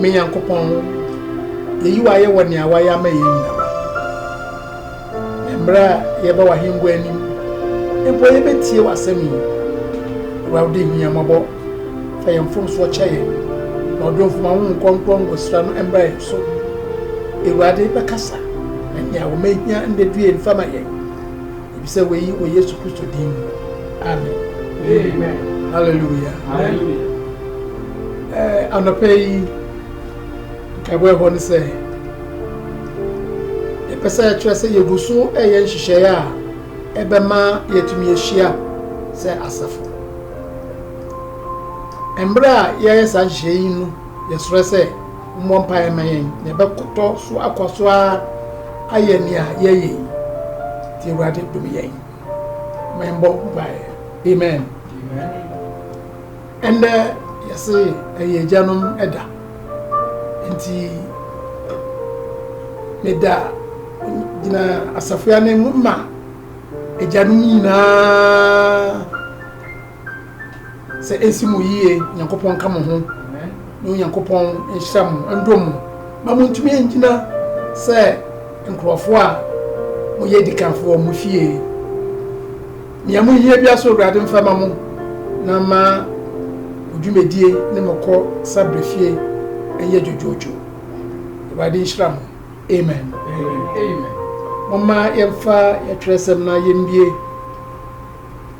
Me Nyankopɔn, yeyi wo ayɛ wɔ nea woayɛ ama yɛn nyinaa. Na mmerɛ a yɛba w'ahengua anim mpo yɛbɛtie w'asɛm yi. Awurade hu yɛn mmɔbɔ, fa yɛn mfomsoɔ kyɛ yɛn, na ɔdomfo ma Honhom Kronkron ngosra no mmra yɛn so. Awurade, bɛkasa, na nea wɔn ahia nnɛduie mfa ma yɛn. Mibisa wei wɔ Yesu Kristo din mu, amen. Amen. Hallelujah. Hallelujah. Eh, anɔpɛ yi, nkaebɔ ɛhɔ ne sɛ, yɛpɛ sɛ yɛkyerɛ sɛ yɛgu so ɛyɛ nhyehyɛeɛ a ɛbɛma yɛatumi ahyia sɛ asafo. Mmerɛ a yɛyɛ saa nhyehyɛeɛ yi no, Yɛsrɛ sɛ mommɔ mpaeɛ mma yɛn na yɛbɛkotɔ so akɔ so ara ayɛ nea yɛyɛ yi nti Awurade dom yɛn. Ma yɛmbɔ mpaeɛ. Amen. Ɛndɛ yɛse ɛyɛ agyanom ɛda nti meda gyina asafo anim ma agyanom nyinaa. sɛ esi mo yie nyankopɔn ka mo ho na onyankopɔn nhyira mo ndɔ mu ma montumi ngyina sɛ nkurɔfoɔ a moyɛ adikanfoɔ wɔ mo fie nea mohia bia so awurade mfa ma mo na ma mo dwumadie ne mo kɔ sa berɛ fie ɛnyɛ dwodwoodwo awurade nhyira mo amen moma yɛmfa yɛtwerɛsɛm na yɛmbie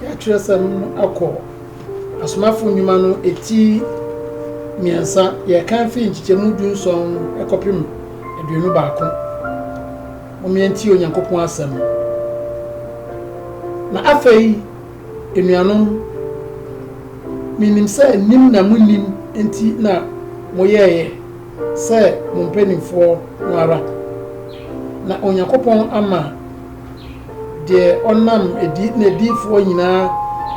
De Atwerɛsɛm no akɔ Asomafo Nnwuma no ti mmiɛnsa, yɛrekan firi nkyekyɛmu du nson no kɔpem aduonu baako, Mom yɛntie Onyankopɔn asɛm. Na afei, anuanom, menim sɛ nim na monnim nti na moyɛeɛ sɛ mo mpanimfoɔ no ara, na Onyankopɔn ama deɛ ɔnam adi n'adiyifoɔ nyinaa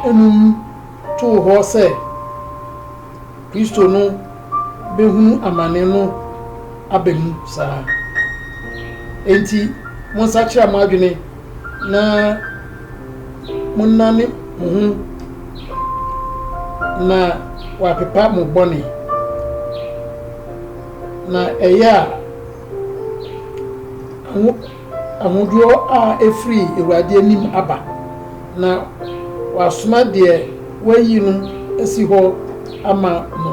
anum too hɔ sɛ Kristo no bɛhunu amane no aba mu saa. Enti monsakyera mo adwene na monnane mo ho na wɔapepa mo bɔne, na ɛyɛ a Ahodoɔ a ɛfiri Awurade anim aba, na wasoma deɛ wayi no asi hɔ ama mo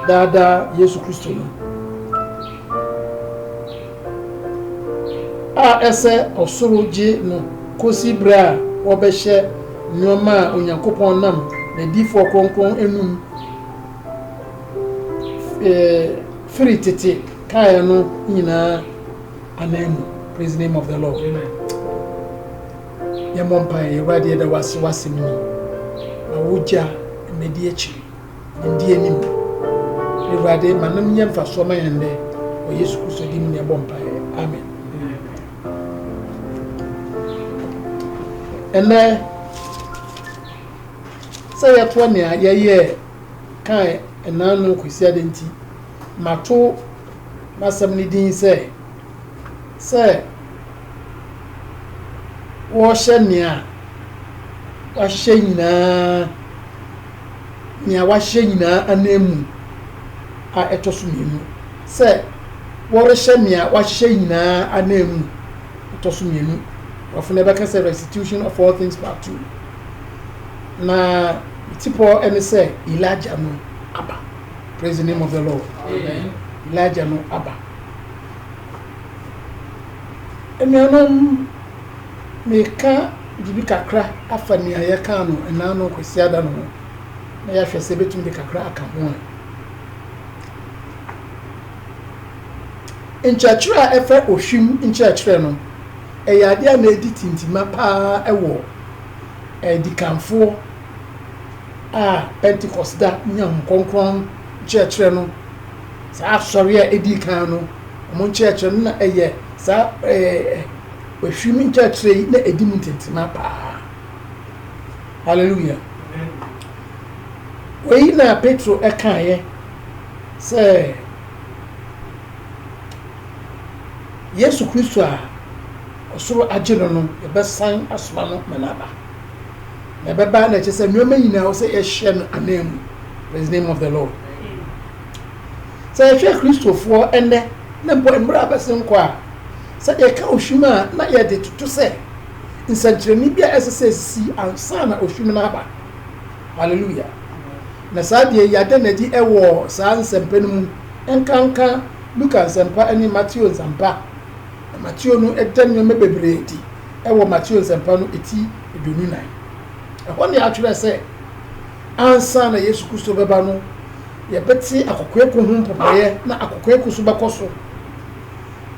daa daa, Yesu Kristo no, a ɛsɛ ɔsoro gye no kɔsi berɛ a wɔbɛhyɛ nnoɔma a Onyankopɔn nam n'adiyifoɔ kronkron anum firi tete kaeɛ no nyinaa Amen praise the name of the Lord. Amen. Yɛmmɔ mpaeɛ Awurade yɛda wase wasɛm ni ma wogya mmɛdi akyiri ndi anim Awurade ma nom nyɛ mfasoɔ ma yɛn nnɛ wɔ Yesu Kristo di mu ne ɛbɔ mpaeɛ amen. Ɛnɛ sɛ yɛtoa nea yɛyɛ kan ɛnaa no kwasi ade nti mato n'asɛm no din sɛ, Sɛ Wɔrehyɛ Nea Wɔahyehyɛ Nyinaa Nea Wɔahyehyɛ Nyinaa Ananmu a ɛtɔ so mmienu. Sɛ Wɔrehyɛ Nea Wɔahyehyɛ Nyinaa Ananmu ɛtɔ so mmienu. Borɔfo no ɛbɛka sɛ Restitution of All Things Part Two. Na ne tipɔ ne sɛ Elijah no aba. Praise the name of the Lord. Amen. Elijah no aba. Anuanom, meka biribi kakra afa nea yɛkaa no ɛnaa no Kwasiada no ho na yɛahwɛ sɛ ɛbɛtumi de kakra aka ho a. Nkyerɛkyerɛ a ɛfɛ ohwim nkyerɛkyerɛ no, ɛyɛ adeɛ a na ɛdi tintima paa wɔ adikanfoɔ a Pentecost da nyaa Honhom Kronkron nkyerɛkyerɛ no, saa asɔre a edii kan no, wɔn nkyerɛkyerɛ no na ɛyɛ saa ɛɛ ohwim nkyerɛkyerɛ yi na edi mu ntentema paa. Hallelujah. Wei na Petro ɛkaeɛ sɛ Yesu Kristo a ɔsoro agye no no, yɛbɛsan asoma no ma no aba. na ɛbɛba na ɛkyɛ sɛ nneɛma nyinaa wɔ sɛ yɛhyɛ no anan mu praise name of the lord sɛ yɛhwɛ kristofoɔ ɛnnɛ na mpo mmerɛ a bɛse nkɔ a sɛ yɛka ohwim a na yɛde toto sɛ nsɛnkyerɛnne bi a ɛsɛ sɛ ɛsisi ansa na ohwim no aba hallelujah na saa deɛ yi adɛ na adi ɛwɔ saa nsɛmpa no mu nkanka luka nsɛmpa ne mateo nsɛmpa na mateo no ɛdɛ nneɛma bebree di ɛwɔ mateo nsɛmpa no ɛti aduonu-nan. Ɛhɔ na yɛatwerɛ sɛ, ansa na Yesu Kristo bɛba no, yɛbɛte akokoeko ho mpopɔeɛ na akokoeko so bɛkɔ so.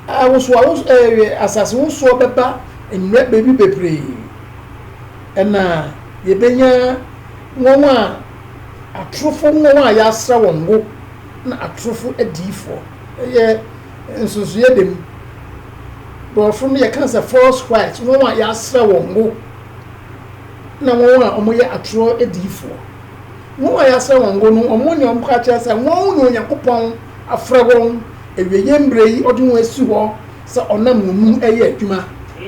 Awosoawoso ɛɛ asase wosoɔ bɛba mmerɛ baabi bebree. Ɛna yɛbɛnya wɔn a atorofo wɔn a yɛasra wɔn ngo na atorofo adiyifoɔ. Ɛyɛ nsonsoeɛ dam. Borɔfo no yɛka sɛ false Christ, wɔn a yɛasra wɔn ngo, na wɔn a wɔyɛ atorɔ adiyifoɔ. Wɔn a yɛasra wɔn ngo no, wɔn ne wɔn ka kyerɛ sɛ wɔn na Onyankopɔn afrɛ wɔn awieeɛ mmerɛ yi, ɔde wɔn asi hɔ sɛ ɔnam wɔn mu reyɛ adwuma.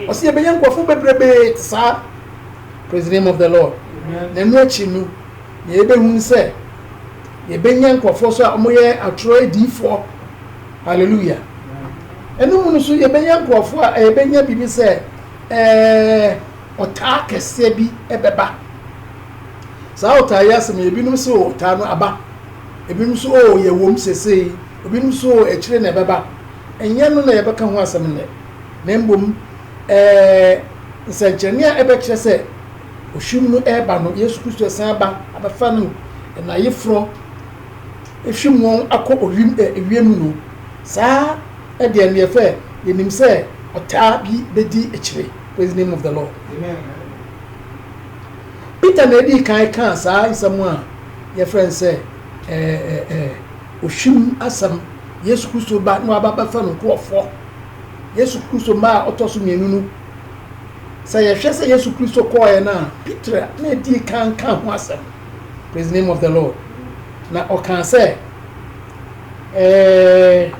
Ɔse yɛbɛnya nkurɔfoɔ bebrebee te saa, praise the name of the Lord. Na ɛno akyi no, na yɛbɛhunu sɛ yɛbɛnya nkurɔfoɔ nso a wɔyɛ atorɔ adiyifoɔ. Hallelujah! Ɛno mu no nso yɛbɛnya nkurɔfoɔ a ɛbɛnya biribi sɛ ɛɛ ɔtaa kɛseɛ bi ɛbɛba. Saa ɔtaa yi asɛm yɛ ebinom sɛ o ɔtaa no aba, ebinom nso o oh, yɛ wɔm sesei, ebinom nso o oh, akyire na ɛbɛba. Ɛnyɛ no na yɛbɛka ho asɛm nnɛ, na mbom ɛɛ nsɛnkyerɛnne a ɛbɛkyerɛ sɛ ohwim no ɛreba no, Yesu Kristo ɛsan aba abɛfa no na ayeforɔ efim wɔn akɔ owim ɛ ewiem no, saa ɛ deɛ neɛ fɛ yɛnim sɛ ɔtaa bi bɛdi akyire. Praise the name of the Lord. Peter na ɛdii kan kaa saa nsɛm a yɛfrɛ no sɛ ɛ ɛ ɛ ohwim asɛm. Yesu Kristo ba na waba bɛfa no nkurɔfoɔ. Yesu Kristo mma a ɔtɔ so mmienu no, sɛ yɛhwɛ sɛ Yesu Kristo kɔɔɛ no a, Peter na ɛdii kan kaa ho asɛm. Praise the name of the Lord. Na ɔkaa sɛ, eh,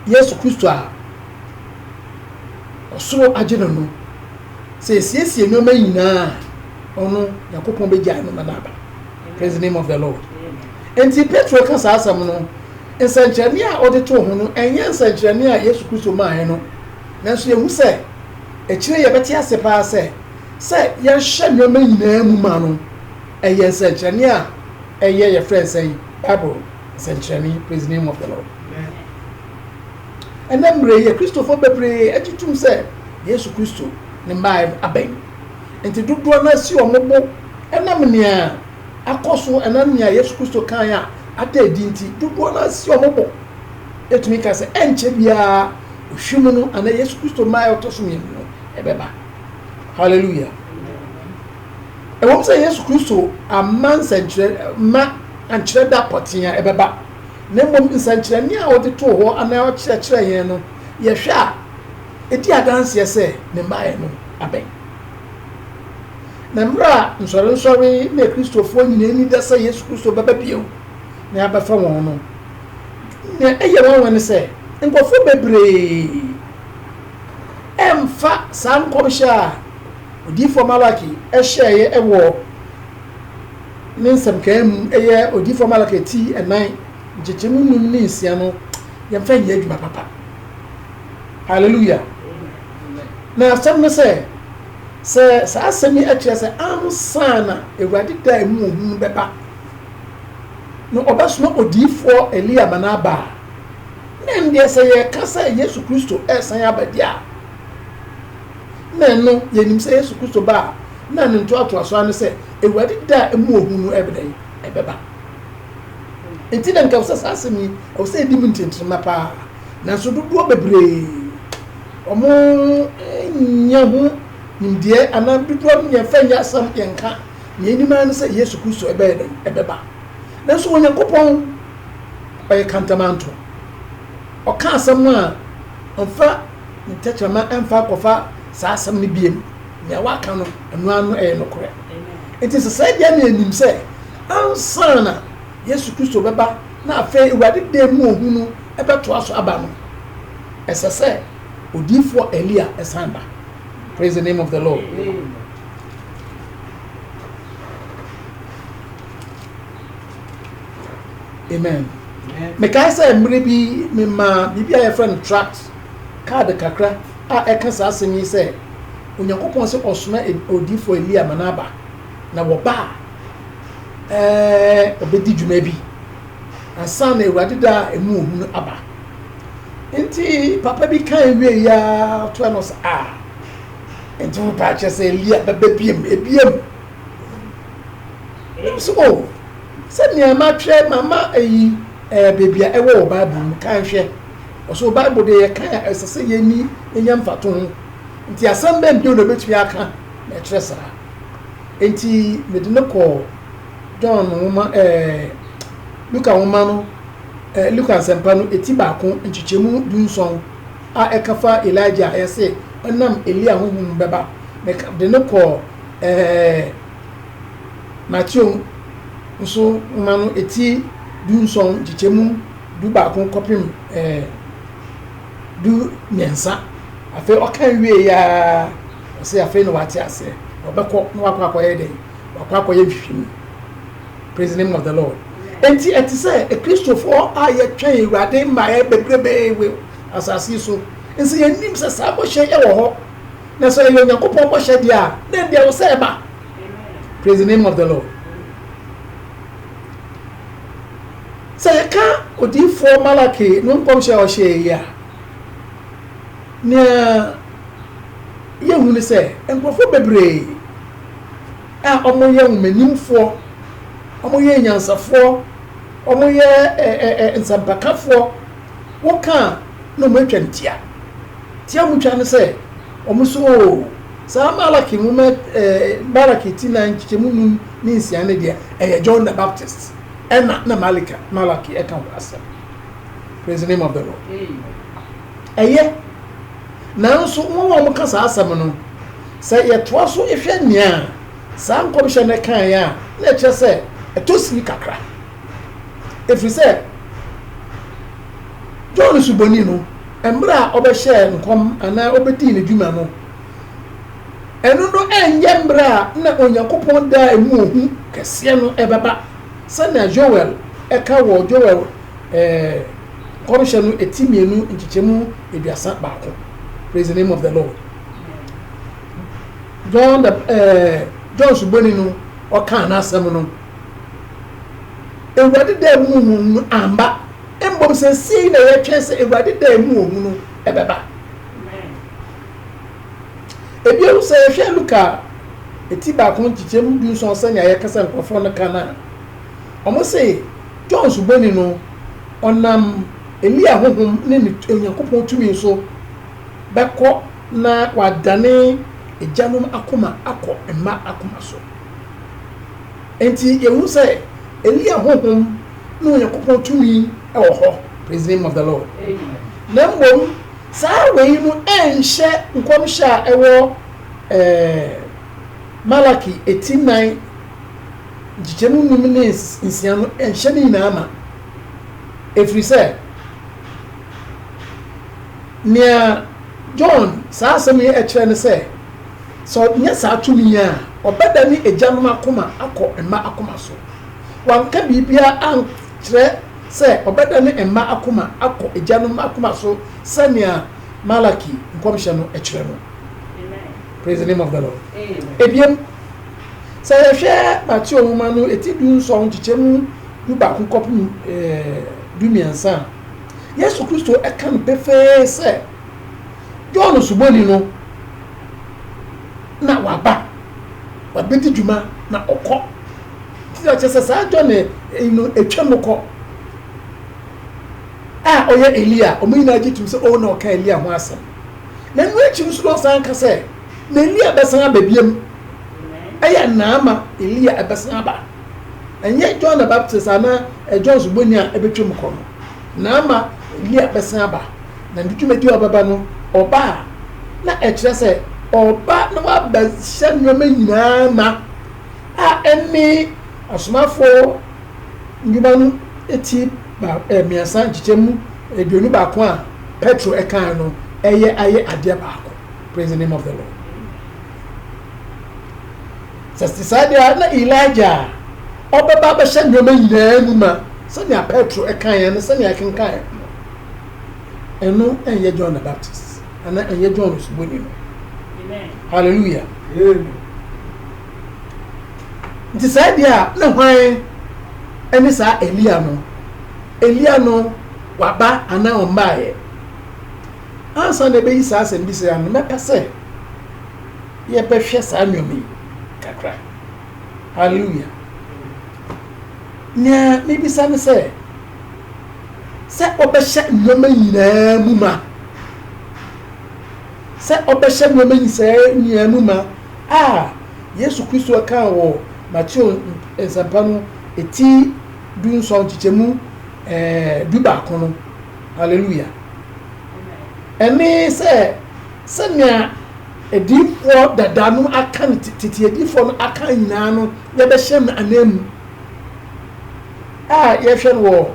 Yesu Kristo a ɔsoro agye no no, sɛ esiesie nneɛma nyinaa ɔno Nyankopɔn bɛgyae no ma no aba. Praise the name of the Lord. Enti Petro ka saa asɛm no, nsɛnkyerɛnne a ɔde too ho no, ɛnyɛ nsɛnkyerɛnne a Yesu Kristo maaeɛ no, nanso yɛhu sɛ akyire yɛbɛte ase paa sɛ Sɛ yɛhyɛ nneɛma nyinaa mu ma no, ɛyɛ nsɛnkyerɛnne a ɛyɛ, yɛfrɛ no sɛn? Bible nsɛnkyerɛnne, Praise the name of the Lord. Ɛnnɛ mmerɛ yi, Akristofoɔ bebree agye tom sɛ Yesu Kristo ne mmaeɛ abɛn. Nti dodoɔ no ara si wɔn bo ɛnam nea akɔ so, ɛnam nea Yesu Kristo kaeɛ a ada adi nti, dodoɔ no ara si wɔn bo. Yɛtumi ka sɛ ɛnkyɛ biara, ɔhwim no anaa Yesu Kristo mmaeɛ a ɔtɔ so mmienu no, ɛbɛba. Hallelujah. Ɛwom sɛ Yesu Kristo amma nsɛnkyerɛ ma ankyerɛ da pɔtee a ɛbɛba, na mmom nsɛnkyerɛnne a ɔde too hɔ anaa ɔkyerɛkyerɛ yɛn no, yɛhwɛ a, edi adanseɛ sɛ ne mmaeɛ no abɛn. Na mmerɛ a nsɔrensɔre ne Akristofoɔ nyinaa ani da sɛ Yesu Kristo bɛba bio na abɛfa wɔn no, nea ɛyɛ nwanwa ne sɛ nkurɔfoɔ bebree ɛmfa saa nkɔmhyɛ a odiyifoɔ Malaki hyɛeɛ wɔ ne nsɛmkaeɛ mu, ɛyɛ odiyifoɔ Malaki ti ɛnan, nkyekyɛmu nnum ne nsia no, yɛmfa nyɛ adwuma papa. Hallelujah. Na asɛm no sɛ, sɛ saa asɛm yi kyerɛ sɛ ansa na Awurade da a ɛmu wɔ hu no bɛba no, ɔbɛsoma odiyifoɔ Elia ma no aba a, Na ɛndeɛ sɛ yɛka sɛ Yesu Kristo resan aba deɛ a, na ɛno yɛnim sɛ Yesu Kristo ba a na ne ntoatoasoɔ ara ne sɛ Awurade da a ɛmu ohu no ɛbɛ dɛn ɛbɛba. Nti na nka sɛ saa asɛm yi ɛwɔ sɛ yɛdi mu ntɛntɛnma paa, nanso dodoɔ bebree wɔn nyɛ ho nimdeɛ anaa dodoɔ no yɛmfa nyɛ asɛm yɛnka, nea ɛnim ara ne sɛ Yesu Kristo ɛbɛyɛ dɛn ɛbɛba. Nanso Onyankopɔn, ɔyɛ kantamanto. Ɔka asɛm a, ɔmfa ne tɛkyerɛma mfa nkɔfa saa asɛm no bio. Nea waka no, ɛno ara no yɛ nokorɛ. Enti sɛ saa deɛ na yɛnim sɛ ansa na Yesu Kristo bɛba na afei Awurade da mu ohu no bɛtoa so aba no, ɛsɛ sɛ odiyifoɔ Elia san ba. Praise the name of the Lord. amen mekae sɛ mmere bi memaa biribi a yɛfrɛ no tract kaad kakra a ɛka saa asɛm yi sɛ onyankopɔn sɛ ɔsoma odifo elia ma n'aba na wɔba a ɛɛ ɔbɛdi dwuma bi ansa na awurade da a ɛmu ohu no aba nti papa bi kan wie ya toa no sɛ a nti wopɛ akyɛ sɛ elia bɛbɛ biem ebiem Ɛwom sɛ, oh, sɛnea matwerɛ, mama eyi ɛɛ baabi a ɛwɔ wɔ Bible mu, kan hwɛ. Ɔsɛ Bible deɛ yɛkan a ɛsɛ sɛ yɛni yɛnya mfatoho. Nti asɛm bɛn bio na obɛtumi aka na ɛkyerɛ saa? Enti mede no kɔɔ John nwoma ɛɛ Luka nwoma no ɛɛ Luka nsɛmpa no eti baako nkyekyɛmu dunson a ɛka fa Elijah a yɛse ɔnam Elia honhom bɛba Meka de no kɔɔ ɛɛ Mateo nso nwoma no eti dunson nkyekyɛ mu du baako kɔpem ɛɛ du mmiɛnsa. Afei ɔka wie yi ara ɔsɛ afei na wate aseɛ na ɔbɛkɔ na wakɔ akɔyɛ dɛn wakɔ akɔyɛ nhwehwɛmu praise the name of the lord enti ɛte sɛ akristofoɔ a yɛtwɛn awurade mmaeɛ bebrebee wɔ asase so nso yɛnim sɛ saa bɔhyɛ yɛ wɔ hɔ Na sɛ ɛyɛ Onyankopɔn bɔhyɛ deɛ a, na ɛndeɛ wo sɛ ɛba. Praise the name of the Lord. Sɛ yɛka odiyifoɔ Malaki no nkɔmhyɛ a ɔhyɛɛ yi a, nea yɛhu ne sɛ nkurɔfoɔ bebree a wɔyɛ nhomanimfoɔ, wɔyɛ nyansafoɔ, wɔyɛ nsɛmpakafoɔ, Woka a na ɔmo atwa no tia. Tia ɔmo twa no sɛ ɔmo so oo. Saa Malaki nwoma ɛɛ Malaki ti nan nkyekyɛmu num ne nsia no deɛ ɛyɛ John the Baptist ɛna na Malika Malaki ɛka ho asɛm. Praise the name of the Lord. Ɛyɛ. Nanso wɔn a wɔka saa asɛm no sɛ yɛtoa so hwɛ nea saa nkɔmhyɛ no kaeɛ a na ɛkyerɛ sɛ ɛtɔ sini kakra. Ɛfiri sɛ, John Suboni no, mmerɛ a ɔbɛhyɛɛ nkɔm anaa ɔbɛdii ne dwuma no, ɛno no ɛnyɛ mmerɛ a na Onyankopɔn daa ɛmu ohu kɛseɛ no ɛbɛba sɛnea Joel ɛka wɔ Joel eh, nkɔmhyɛ no ɛti mmienu nkyekyɛmu aduasa baako. Praise the name of the Lord. John, the, uh, John Suboni no ɔkaa n'asɛm no Awurade da a ɛmu hu no amba, mbom sesei na yɛtwɛn sɛ Awurade da a ɛmu ohu no bɛba. Bio, sɛ yɛhwɛ Luka ti baako nkyekyɛmu du nson sɛnea yɛkasa nkurɔfoɔ no ka no a, wɔn se John Suboni no ɔnam Elia honhom ne ne Onyankopɔn tumi so bɛkɔ na wadane agyanom akoma akɔ mma akoma so. Enti yehu sɛ Elia honhom ne Onyankopɔn tumi wɔ hɔ, praise the name of the Lord, na mmom saa wei no nhyɛ nkɔmhyɛ a ɛwɔ Malaki ti nnan nkyekyɛmu nnum ne nsia no nhyɛ ne nyinaa ma, ɛfiri sɛ nea John saa asɛm yi kyerɛ ne sɛ Sɛ ɔnyɛ saa tumi yi a, ɔbɛdane agyanom akoma akɔ mma akoma so. Wanka biribiara ankyerɛ sɛ ɔbɛdane mma akoma akɔ agyanom akoma so sɛnea Malaki nkɔmhyɛ no kyerɛ no. Praise the name of the Lord. Ebiem, sɛ yɛhwɛ Mateo nwoma no eti du nson nkyekyɛ mu du baako kɔpem du mmiɛnsa a, Yesu Kristo ka no pefee sɛ, John Osuboni no na waba wabɛdi dwuma na ɔkɔ nti akyɛ sɛ saa John eh, eh, no atwa mu kɔ a ɔyɛ Elia wɔn nyinaa gye tum sɛ ɔwɔ oh, na ɔka Elia ho asɛm na ɛno akyi no so na ɔsan ka sɛ na Elia bɛsan aba biam ɛyɛ naama Elia ɛbɛsan aba ɛnyɛ John the Baptist anaa eh, John Osuboni a ɛbɛtwa mu kɔ no naama Elia bɛsan aba Na ne dwumadi a ɔbɛba no, ɔba a, na ɛkyerɛ sɛ ɔreba na wabɛhyɛ nneɛma nyinaa ma, a ɛne Asomafoɔ Nnwuma no ti mmiɛnsa nkyekyɛmu aduonu baako a Petro kae no yɛ ayɛ adeɛ baako. Praise the name of the Lord. Sɛ te saa deɛ na Elijah a ɔbɛba abɛhyɛ nneɛma nyinaa mu ma sɛnea Petro kaeɛ no sɛnea ɛkenkaeɛ no. ɛno ɛnyɛ john the baptist ana ɛnyɛ john osuboni no hallelujah nti saa deɛ a ne hwan ɛne saa elia no elia no waba ana ɔmbaeɛ ansa na ɛbɛyi saa asɛm bi sɛ ano mɛpɛ sɛ yɛbɛhwɛ saa nneɛma yi kakra hallelujah nea mebisa ne sɛ sɛ ɔbɛhyɛ nneɛma nyinaa mu ma, sɛ ɔbɛhyɛ nneɛma nyinaa mu ma a Yesu Kristo kaa wɔ Mateo Nsɛmpa no ti du nson nkyekyɛmu du baako no. Hallelujah! Ɛne sɛ sɛnea adiifoɔ dada no aka no tete adiifoɔ no aka nyinaa no yɛbɛhyɛ no ananmu. A yɛhwɛ no wɔ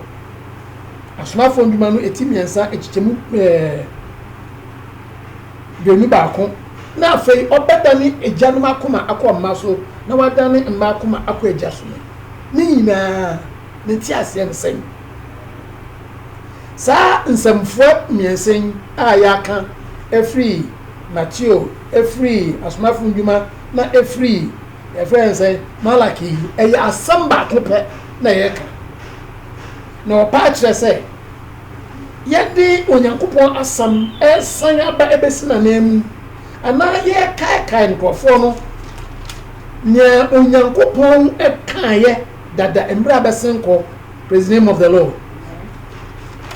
Asomafo Ndwuma no eti mmiɛnsa nkyekyɛmu ɛɛ duonu baako na afei ɔbɛdane agyanom akoma akɔ mma so na wadane mma akoma akɔ agya so no ne nyinaa ne nteaseɛ ne sɛn? Saa nsɛmfua mmiɛnsa yi a yɛaka afiri Mateo, afiri Asomafo Ndwuma na afiri yɛfrɛ no sɛ malaki yi ɛyɛ asɛm baako pɛ na yɛka na ɔpa akyerɛ sɛ yɛde onyankopɔn asɛm ɛsan aba ɛbɛsi n'anan mu anaa yɛkaekae nkurɔfoɔ no nea onyankopɔn ɛkaeɛ dada mmerɛ a bɛsen kɔ praise the name of the lord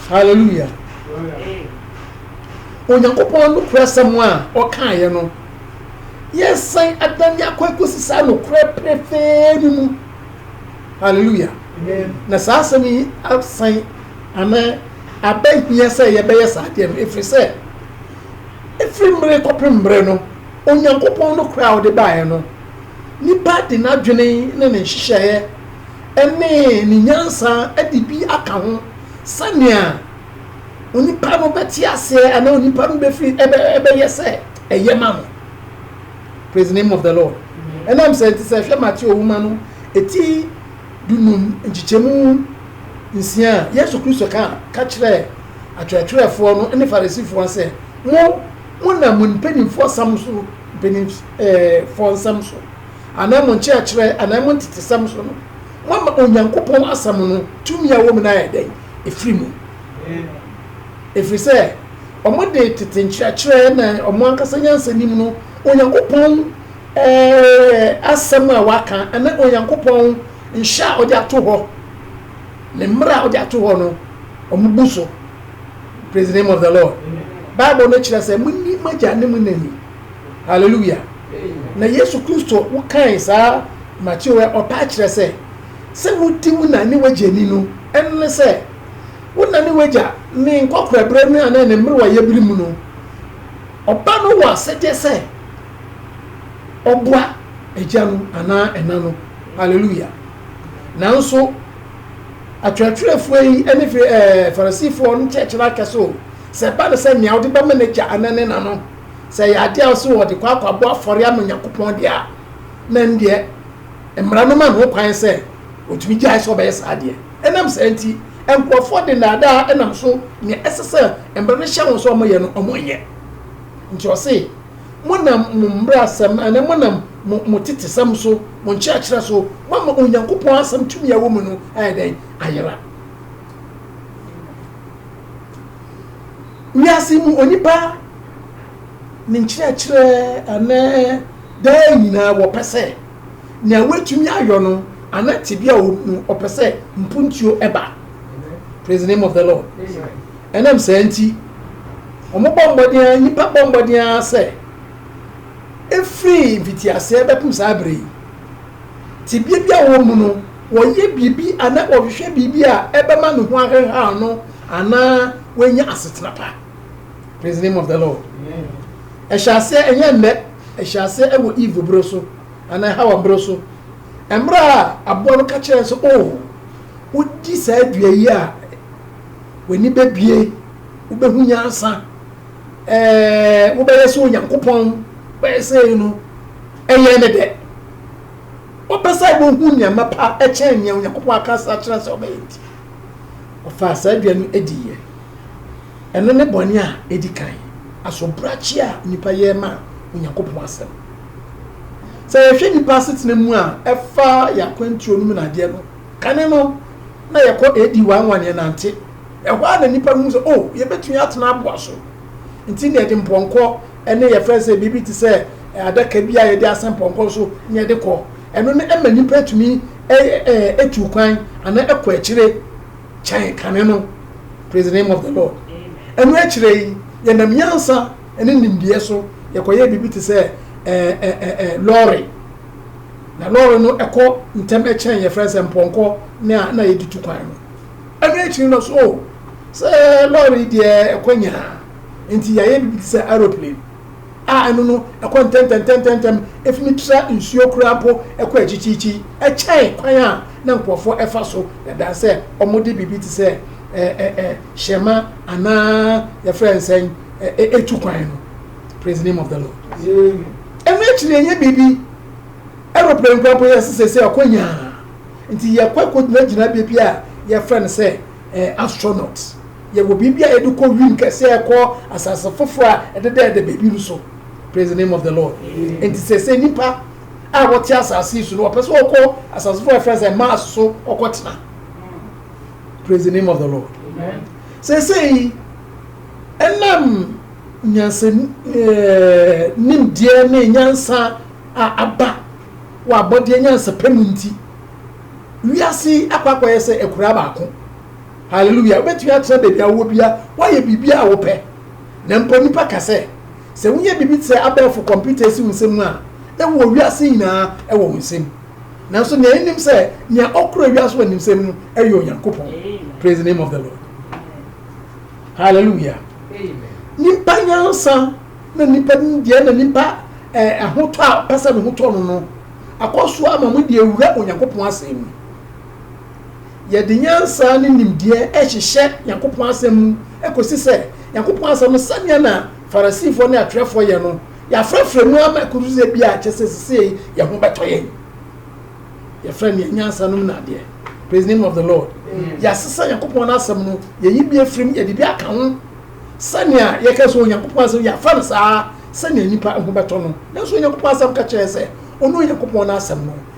hallelujah onyankopɔn no kura sɛm a ɔkaeɛ no Yɛresan adan yɛn akwan kɔsi saa nokorɛ pefee no mu. Hallelujah. Na saa asɛm yi asan anaa abɛhia sɛ yɛbɛyɛ saa adeɛ no ɛfiri sɛ ɛfiri mmere kɔpem mmere no Onyankopɔn nokorɛ a ɔde baeɛ no nipa de n'adwene ne ne nhyehyɛeɛ ɛne ne nyansa ɛde bi aka ho sɛnea onipa no bɛte aseɛ anaa onipa no bɛfiri ɛbɛyɛ sɛ Ɛyɛ ma no. Praise the name of the Lord. Ɛnam saa nti, sɛ ɛhwɛ Mateo nwoma no eti dunum nkyekyɛmu nsia a, Yesu Kristo ka ka kyerɛɛ atwerɛtwerɛfoɔ no ne Farisifoɔ sɛ, Mo, monam mo mpanimfoɔ sam so, mpanimfoɔ nsɛm so, anaa mo nkyerɛkyerɛ, anaa mo ntetesɛm so no, moama Onyankopɔn asɛm no tumi a ɛwɔ mu no ayɛ dɛn? Ɛfiri mu. Ɛfiri sɛ. Wɔde tete nkyerɛkyerɛ ne wɔn ankasa nyansa nim no, Onyankopɔn asɛm a waka ne Onyankopɔn nhyɛ a ɔde ato hɔ, ne mmara a ɔde ato hɔ no, wɔbu so. Praise the name of the Lord. Bible no kyerɛ sɛ monni mo agya ne mo na ni. Hallelujah. Na Yesu Kristo wokae saa Mateo ɔtaa kyerɛ sɛ sɛ wodi wo na ne w'agya ni no, ɛno ne sɛ Wo na ne w'agya, ne nkɔkorɛberɛ mu anaa ne mmerewayɛ bere mu no. Ɔba no wɔ asɛdeɛ sɛ ɔboa agya no anaa ɛna no. Hallelujah. Nanso, atwerɛtwerɛfoɔ yi ne Fri ɛɛ Farisifoɔ no nkyerɛkyerɛ akɛse o. Sɛ ɛba no sɛ nea ɔde bɛma n'agya anaa ne na no, sɛ ɛyɛ adeɛ a ɔsɛ ɔde kɔ akɔabɔ afɔre ama Onyankopɔn deɛ a, na ɛndeɛ Mmara no ma no ho kwan sɛ otumi gyae sɛ ɔbɛyɛ saa deɛ. Ɛnam saa nti, nkurɔfoɔ de nnaadaa nam so nea ɛsɛ sɛ mmara no hyɛ wɔn sɛ wɔyɛ no, wɔnyɛ. Nti ɔse, Monam mo mmrasɛm anaa monam mo mo tetesɛm so, mo nkyerɛkyerɛ so, moama Onyankopɔn asɛm tumi a ɛwɔ mu no ayɛ dɛn? Ayera. Wiase yi mu onipa ne nkyerɛkyerɛ anaa daa nyinaa wɔpɛ sɛ nea watumi ayɔ no ana tebea a ɔmu ɔpɛ sɛ mpuntuo ɛba praise the name of the lord ɛnam saa nti wɔn bɔ mmɔden a nnipa bɔ mmɔden a sɛ ɛfiri mfitiaseɛ bɛpem saa berɛ yi tebea bi a wɔmu no wɔyɛ biribi ana wɔhwehwɛ biribi a ɛbɛma ne ho aheha no anaa wɔanya asetena pa praise the name of the lord ɛhyɛ aseɛ ɛnyɛ nnɛ ɛhyɛ aseɛ ɛwɔ eve bere so anaa hawa bere so mmerɛ a aboa no ka kyerɛ sɛ o oh, wodi saa dua yi a w'ani bɛbie wobɛhu nyansa ɛɛ wobɛyɛ sɛ onyankopɔn bɛyɛ sɛ no ɛyɛ ne dɛ wopɛ sɛ wohu nneɛma pa ɛkyɛn nea onyankopɔn aka sa kyerɛ sɛ ɔbɛyɛ nti ɔfaa saa dua no adiiɛ Ɛno ne bɔne a edi kan, asobrakye a nnipa yɛ ma Onyankopɔn Asɛm. Sɛ yɛhwɛ nnipa asetena mu a ɛfa yɛn akwantuo no mu nnadeɛ no, kane no, na yɛkɔ AD 1 1 yɛnante. Ɛhɔ ara na nnipa hu sɛ, oh, yɛbɛtumi atena aboa so. Nti na yɛde mpɔnkɔ ne yɛfrɛ sɛ biribi te sɛ adaka bi a yɛde asɛn pɔnkɔ so na yɛde kɔ. Ɛno no ma nnipa tumi tu kwan anaa kɔ akyire. kyɛn kane no, praise the name of the Lord. Ɛno akyire yi, yɛnam nyansa ne nimdeɛ so yɛkɔyɛ biribi te sɛ ɛɛ ɛɛ ɛɛ lɔɔre. Na lɔɔre no ɛkɔ ntɛm ɛkyɛn yɛfrɛ sɛ mpɔnkɔ ne a na yɛde tu kwan no. Ɛno akyiri no so sɛ lɔɔre deɛ ɛkɔ nyaa nti yɛayɛ biribi te sɛ aeroplane. a ɛno no ɛkɔ ntɛntɛntɛntɛntɛm, efi no tra nsuo koraa mpo ɛkɔ akyikyiikyii, ɛkyɛn kwan a na nkurɔfoɔ ɛfa so dada sɛ wɔde biribi te sɛ ɛ ɛ ɛ hyɛmma anaa yɛfrɛ no sɛn ɛ ɛtu kwan no. Praise the name of the Lord. Ɛno akyi no ɛnyɛ biribi, aeroplane koraa mpo yɛse sɛ sɛ ɛkɔ nyaa, nti yɛkɔ ɛkɔgyina gyinabea bi a yɛfrɛ no sɛ ɛ astronaut, Yɛwɔ biribi a yɛde kɔ wim kɛse a ɛkɔ asase foforo a ɛdedɛɛdɛ baabi no so. Praise the name of the Lord. Nti sɛ sɛ nnipa a wɔte asase yi so no wɔpɛ sɛ wɔkɔ asase foforo a ɛfrɛ sɛ Mars so wɔkɔtena. Praise the name of the Lord. Seesei ɛnam nyansa nimdeɛ ne nyansa a aba wɔ abɔdeɛ nyansapɛ mu nti, wiase akɔ akɔyɛ sɛ akuraa baako. Hallelujah! Wobɛtumi atena baabi a wowɔ bia, woayɛ biribi a wopɛ. Na mpo nnipa ka sɛ, sɛ woyɛ biribi te sɛ abɛɛfo kɔmputa asi wo nsam a, na wowɔ wiase nyinaa wɔ wo nsam. Nanso nea yenim sɛ, nea ɔkura wiase wɔ ne nsam no yɛ Onyankopɔn. Praise the name of the Lord. Hallelujah! Nipa nyansa na nipa nimdeɛ na nipa eh, ahotɔ a ɔpɛ sɛ ne ho tɔ no no akɔ so ama mo de awura Onyankopɔn asɛm mu. Yɛde nyansa ne nimdeɛ hyehyɛ Nyankopɔn asɛm mu kosi sɛ Nyankopɔn asɛm no sɛnea na Farisifoɔ ne atwerɛfoɔ yɛ no, yɛafrafra mu ama ɛkɔduru sɛ bi a kyerɛ sɛ sesei yɛn ho bɛtɔ yɛn. Yɛfrɛ nea nyansa nom no adeɛ. Praise the name of the Lord. Yɛasesa Nyankopɔn no asɛm no, yɛyi bi afiri mu, yɛde bi aka ho sɛnea yɛka sɛ Onyankopɔn asɛm yɛafa no saa sɛnea nnipa ho bɛtɔ no. Nanso Onyankopɔn asɛm ka kyerɛ yɛn sɛ ɔno Onyankopɔn no asɛm no.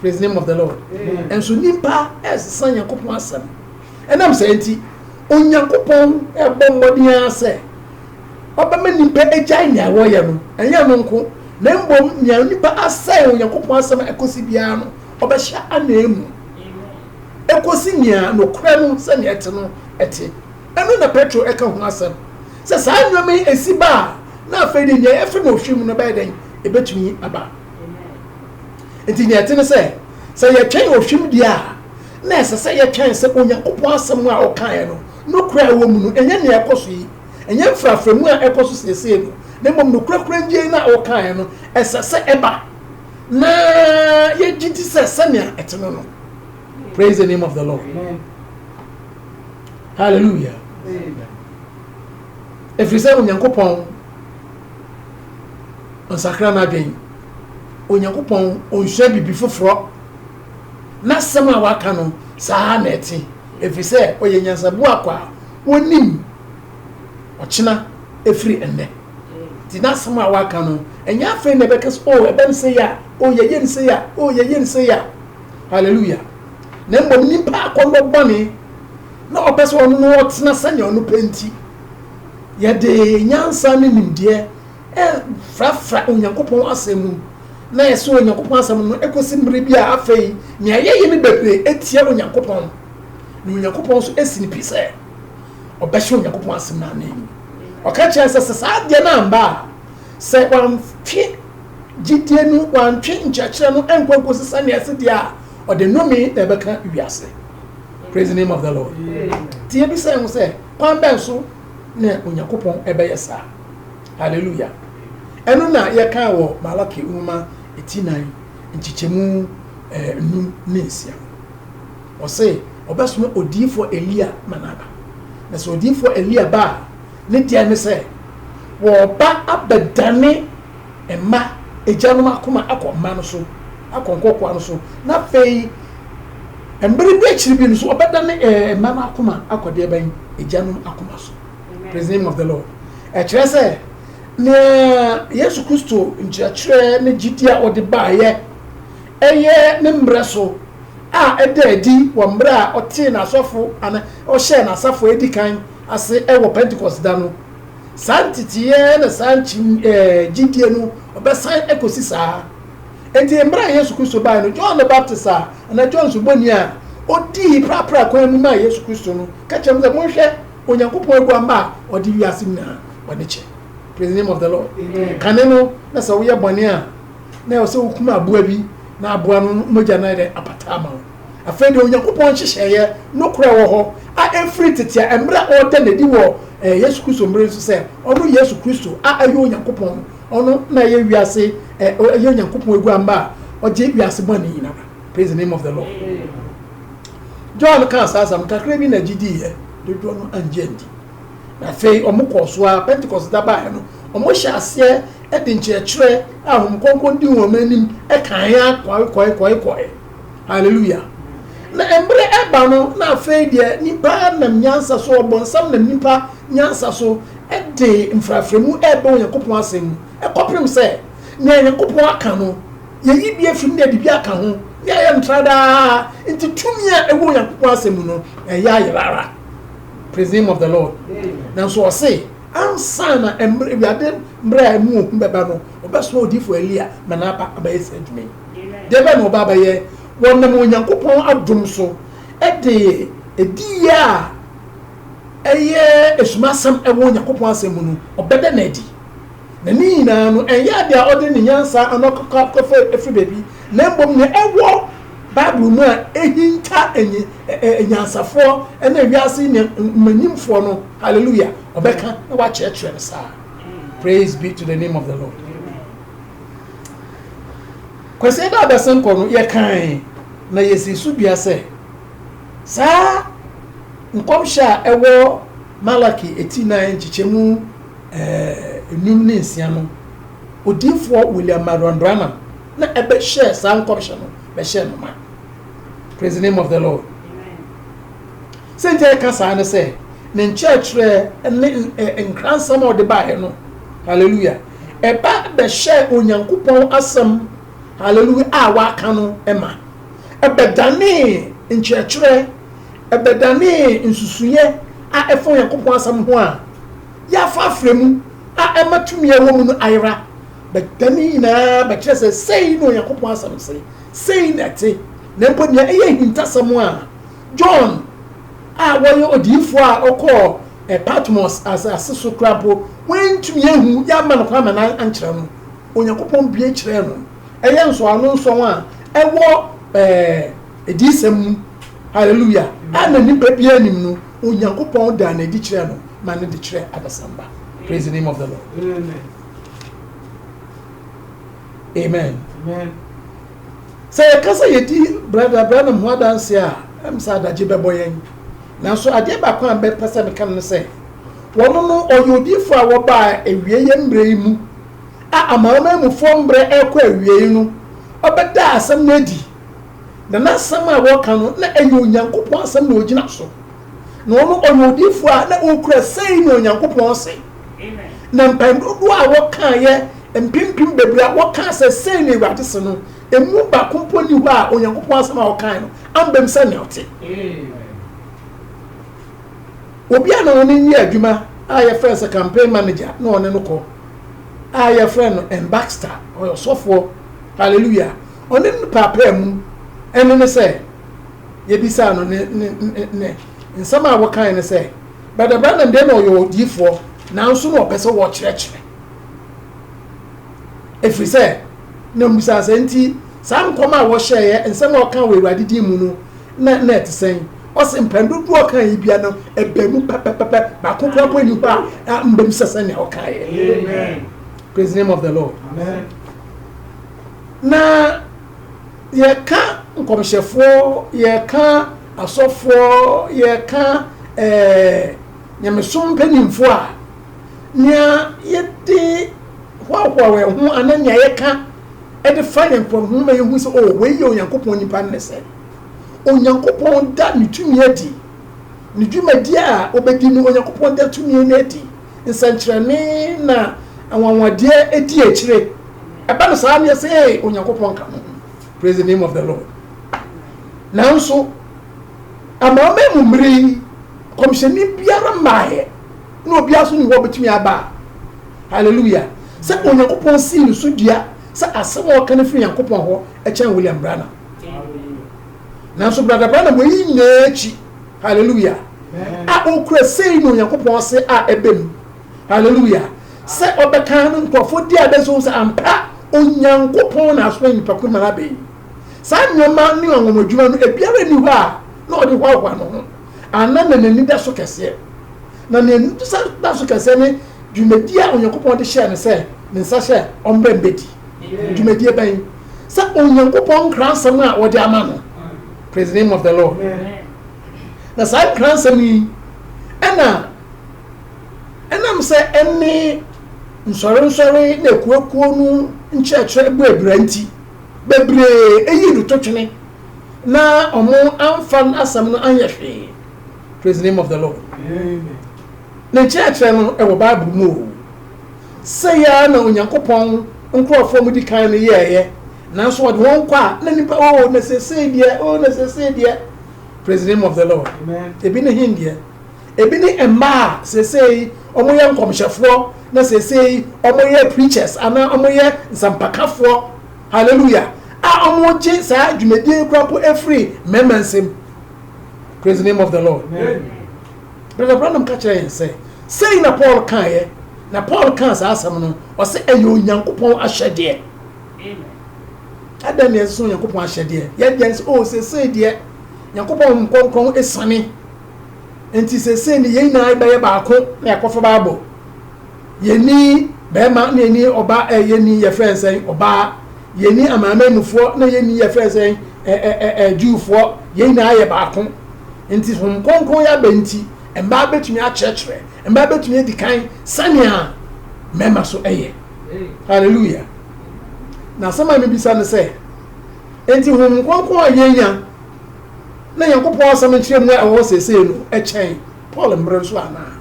praise the name of the lord nso nipa ɛsesa nyankopɔn asɛm ɛnam sɛ nti onyankopɔn ɛbɔ mmɔden ara sɛ ɔbɛma nipa agyae nea wɔyɛ no ɛnyɛ no nko na mbom nea nipa asɛe onyankopɔn asɛm ɛkɔsi biara no ɔbɛhyɛ anaa mu ɛkɔsi nea nokorɛ no sɛnea ɛte no ɛte ɛno na petro ɛka ho asɛm sɛ saa nneɛma yi ɛsi ba a na afei de nea ɛfɛ na ohwɛ mu no bɛyɛ dɛn ɛbɛtumi aba nti nea ɛte ne sɛ sɛ yɛtwɛn ohwim deɛ a na ɛsɛ sɛ yɛtwɛn sɛ onyankopɔn asɛm a ɔkaeɛ no nokora a ɛwɔ mu no ɛnyɛ nea ɛkɔ so yi ɛnyɛ mfraframu a ɛkɔ so siesie no na mmom nokorakora ngyei no a ɔkaeɛ no ɛsɛ sɛ ɛba na yɛgye di sɛ sɛnea ɛte no no praise the name of the lord hallelujah ɛfiri sɛ onyankopɔn ɔnsakra n'adwen. Onyankopɔn ɔnsua biribi foforɔ. N'asɛm a waka no saa na ɛte, ɛfiri sɛ ɔyɛ nyansaboa kwa a ɔnim ɔkyena ɛfiri ɛnnɛ. Nti n'asɛm a waka no, ɛnyɛ afei na ɛbɛka sɛ, o ɛbɛm sɛ yɛ a, o yɛyɛ ne sɛ yɛ a, o yɛyɛ ne sɛ yɛ a. Hallelujah. Na mmom nipa akɔnnɔ bɔne na ɔpɛ sɛ ɔno no ɔtena sɛnea ɔno pɛ nti. Yɛde nyansa ne nimdeɛ frafra Onyankopɔn Asɛm mu, na yɛsɔ Onyankopɔn Asɛm no kosi mmere bi a afei nea yɛyɛ no bebree tia Onyankopɔn, na Onyankopɔn nso asi no pi sɛ ɔbɛhyɛ Onyankopɔn Asɛm no anan. Ɔka kyerɛ sɛ sɛ saa adeɛ no amba a, sɛ wantwe gyidie no, wantwe nkyerɛkyerɛ no nkɔ nkosi sɛnea ɛsi deɛ a, ɔde nnome na ɛbɛka wiase. Praise the name of the Lord. Nti yɛbisa yɛn ho sɛ, Kwan bɛn so na Onyankopɔn bɛyɛ saa? Haleluya! Ɛno na yɛkaa wɔ Malaki nwoma ti nnan nkyekyɛmu nnum ne nsia no. Ɔse ɔbɛsoma odiyifoɔ Elia ma no aba. Na sɛ odiyifoɔ Elia ba a, ne deɛ ne sɛ wɔba abɛdane Mma agyanom akoma akɔ mma no so, akɔ nkɔkoaa no so, na afei mmere bi akyiri bi no so ɔbɛdane eh, mma no akoma akɔ deɛ bɛn agyanom akoma so. Praise the name of the Lord. Ɛkyerɛ sɛ nea Yesu Kristo nkyerɛkyerɛ ne gyidi a ɔde baeɛ ɛyɛ ne mmerɛ so a ɛda adi wɔ mmerɛ a ɔtee n'asɔfo ana ɔhyɛɛ n'asafo edi kan ase ɛwɔ Pentecost da no. Saa nteteeɛ na saa nkyim ɛɛ gyidie no ɔbɛsan ɛkɔsi saa. Enti mmerɛ a Yesu Kristo baeɛ no, John the Baptist a, anaa John Suboni a, ɔdii prapra kwan mu maa Yesu Kristo no, ka kyerɛ mo sɛ, Monhwɛ, Onyankopɔn aguamma a ɔde wiase nyinaa bɔne kyɛ. Praise the name of the Lord. Amen. Kane no, na sɛ woyɛ bɔne a, na ɛwɔ sɛ wokum aboa bi, na aboa no mogya no ayɛ dɛ apata ama wo. Afei deɛ Onyankopɔn nhyehyɛeɛ nokorɛ a ɛwɔ hɔ a ɛfiri tete a mmerɛ a ɔreda no adi wɔ Yesu Kristo mmerɛ nso sɛ ɔno Yesu Kristo a ɛyɛ Onyankopɔn ɔno na ɛyɛ wiase ɛyɛ Onyankopɔn aguamma a ɔgye wiase bɔne nyinaa praise the name of the Lord John kaa saa asɛm kakra bi na gye diiɛ dodoɔ no angye andi na afei wɔn kɔɔ so a Pentecost da baeɛ no wɔn hyɛ aseɛ de nkyerɛkyerɛ a wɔn kɔnkɔn di wɔn anim ɛkan ya kɔe kɔe kɔe kɔe Hallelujah! Na mberɛ reba no, na afei deɛ nipa nam nyansa so, ɔbɔnsam nam nipa nyansa so de mfraframu rebɛ Onyankopɔn asɛm mu, kɔpem sɛ nea Nyankopɔn aka no, yɛyi bi afiri mu na yɛde bi aka ho, na yɛyɛ no tradaa, nti tumi a ɛwɔ Onyankopɔn asɛm mu no, ɛyɛ ayera ara. Praise the name of the Lord. Nanso ɔse, ansa na mberɛ, wiade mberɛ a ɛmu ohu bɛba no, Wɔbɛsoma odiyifo Elia ma n'aba abɛyɛ saa adwuma yi. Deɛ bɛn na ɔba abɛyɛ? Wɔnam Onyankopɔn adom so de adiyie a ɛyɛ asumasɛm wɔ Onyankopɔn Asɛm mu no, ɔbɛda no adi. Na ne nyinaa no, ɛnyɛ adeɛ a ɔde ne nyansa anaa ɔkɔfa firi baabi, na mmom nea ɛwɔ Bible mu a ɛhinta anyansafoɔ ne wiase mmaranimfoɔ no, hallelujah, ɔbɛka na wakyerɛkyerɛ no saa. praise be to the name of the lord kwasi da abɛsen kɔ no yɛkan na yɛsi so dua sɛ saa nkɔmhyɛ a ɛwɔ malaki eti nan nkyekyɛmu enum eh, ne nsia no odiifoɔ william marion branham na ɛbɛhyɛ saa nkɔmhyɛ no bɛhyɛ no ma praise the name of the lord Sɛ nti a yɛka saa ne sɛ, ne nkyerɛkyerɛ ne nkransɛm a ɔde baeɛ no, hallelujah, ɛba bɛhyɛɛ Onyankopɔn asɛm, hallelujah, a waka no ma. Ɛbɛdanee nkyerɛkyerɛ, ɛbɛdanee nsusuiɛ a ɛfa Onyankopɔn asɛm ho a yɛafa afrɛ mu a ɛma tumi a ɛwɔ mu no ayera. Bɛda ne nyinaa bɛkyerɛ sɛ sei na Onyankopɔn asɛm se, sei na ɛte, na mpo nea ɛyɛ ahintasɛm a John a ɔyɛ odiyifoɔ a ɔkɔɔ Patmos asase so koraa mpo, wɔantumi anhu, yɛamma no kwan ma no ankyerɛ no. Onyankopɔn bue kyerɛɛ no. Ɛyɛ nsɔano nson a ɛwɔ Adiyisɛm mu, hallelujah, a na nipa biara nnim no, Onyankopɔn daa no adi kyerɛɛ no ma no de kyerɛɛ adasamba. Praise the name of the Lord. Amen. Amen. Sɛ yɛka sɛ yedi Brada Branham ho adanse a, ɛm sɛ adagye bɛbɔ yɛn. Nanso adeɛ baako a mɛpɛ sɛ meka no ne sɛ, ɔno no, ɔyɛ odiyifoɔ a ɔbaa awieɛ mmerɛ yi mu, a Amanaman mufoɔ mmerɛ rekɔ awieɛ no, ɔbɛdaa asɛm no adi. Na n'asɛm a ɔka no, na ɛyɛ Onyankopɔn asɛm na ɔgyina so. Na ɔno ɔyɛ odiyifoɔ a na ɔkura sei na Onyankopɔn se. Na mpae dodoɔ a wɔkaeɛ mpempem bebree a wɔkaa sɛ sei na Awurade se no, emu baako mpo nni hɔ a Onyankopɔn asɛm a ɔkae no ambam sɛnea ɔte. Obi a na ɔne no yɛ adwuma a yɛfrɛ sɛ campaign manager na ɔne no kɔ a yɛfrɛ no M. Baxter, ɔyɛ ɔsɔfoɔ, hallelujah, ɔne no paapaa mu ɛne ne sɛ, yɛbisaa no ne ne ne ne nsɛm a wɔkae no sɛ Brother Branham deɛ na ɔyɛ odiyifoɔ nanso na ɔpɛ sɛ wɔkyerɛkyerɛ ɛfiri sɛ na mmusaa sɛ nti saa nkɔm a wɔhyɛeɛ nsɛm a ɔka wɔ awurade din mu no na na ɛte sɛn ɔsɛ mpɛn dodoɔ ɔka yi bia no ɛbɛ mu pɛpɛpɛpɛ baako kora mpo ani hɔ a mbam sɛ sɛnea ɔkaeɛ praise the name of the lord Amen. na yɛka nkɔmhyɛfoɔ yɛka asɔfoɔ yɛka eh, nyamesom mpanimfoɔ a nea yɛde hoahoa wɔn ho anaa nea yɛka de fa yɛn nkurɔfoɔ ma yɛhu sɛ oh wei yɛ onyankopɔn nipa no ne sɛ onyankopɔn da ne tumi adi ne dwumadi a ɔbɛdi no onyankopɔn da tumi no adi nsɛnkyerɛnne na anwanwadeɛ ɛdi akyire ɛba no saa neɛ sɛ ee onyankopɔn ka mo ho praise the name of the lord nanso amanaman mu mmere yi kɔmhyɛni biara mmaeɛ na obiara so ne hɔ bɛtumi aba hallelujah sɛ onyankopɔn sii ne so dua sɛ asɛm a ɔka no firi nyankopɔn hɔ ɛkyɛn william branham nanso brada branham wɔyi nyinaa akyi Hallelujah. A okura sei na Onyankopɔn ase a ɛbɛ mu. Hallelujah. Sɛ ɔbɛka no nkurɔfoɔ di adansi ho sɛ ampa Onyankopɔn na asoma nnipa ko no ma no abɛn. Saa nneɛma ne anwanwadwuma no ebiara nni hɔ a na ɔde hoahoa ne ho anaa na n'ani da so kɛseɛ. Na nea n'ani sa da so kɛseɛ ne dwumadie a Onyankopɔn de hyɛɛ no sɛ ne nsa hyɛ ɔmmrɛ mbɛdi. Dwumadie bɛn? Sɛ Onyankopɔn nkransɛm a wɔde ama no. Praise the name of the Lord. Na saa nkransɛm yi ɛna ɛnam sɛ ɛne nsɔrensɔre na akuakuo no nkyerɛkyerɛ bɔ abira nti bebree eyi no to twene na wɔn amfa asɛm no anyɛ hwee praise the name of the lord ne nkyerɛkyerɛ no ɛwɔ bible mu o sɛ yɛa na onyankopɔn nkurɔfoɔ mu di kan no yɛɛyɛ Nanso wɔde wɔn kɔ a na nipa oo na sesei deɛ oo na sesei deɛ praise the name of the Lord ebi ne hin deɛ ebi ne mmaa a sesei wɔn yɛ nkɔmhyɛfoɔ na sesei wɔn yɛ preachers anaa wɔn yɛ nsɛmpakafoɔ hallelujah a wɔn gye saa dwumadie yi kura po efiri mmarima nsam praise the name of the Lord brother Branham ka kyerɛ yɛn sɛ sɛyi na Paul kan yɛ na Paul kan saa asɛm no ɔsɛ ɛyɛ Onyankopɔn ahyɛdeɛ. Amen. Adɛn na ɛsene Onyankopɔn ahyɛdeɛ? Yɛn deɛ nso, oh, seesei deɛ Nyankopɔn Honhom Kronkron asiane. Enti seesei ne yɛn nyinaa yɛbɛyɛ baako na yɛakɔfa Bible. Yɛnni bɛrima na yɛnni ɔba ɛ eh, yɛnni yɛfrɛ no sɛn ɔbaa. Yɛnni amanamanmufoɔ na yɛnni yɛfrɛ no sɛn ɛ ɛ ɛ ɛ Jewfoɔ. Yɛn nyinaa yɛ baako. Enti Honhom Kronkron yɛ abɛ nti, mmaa bɛtumi akyerɛkyerɛ, mmaa bɛtumi adi kan sɛnea mmarima so yɛ. Hallelujah. Na asɛm a mibisa ne sɛ, Enti honhom kronkron a yenya na Nyankopɔn Asɛm nkyerɛmu a ɛwɔ hɔ seesei no kyɛn Paul mmere nso anaa?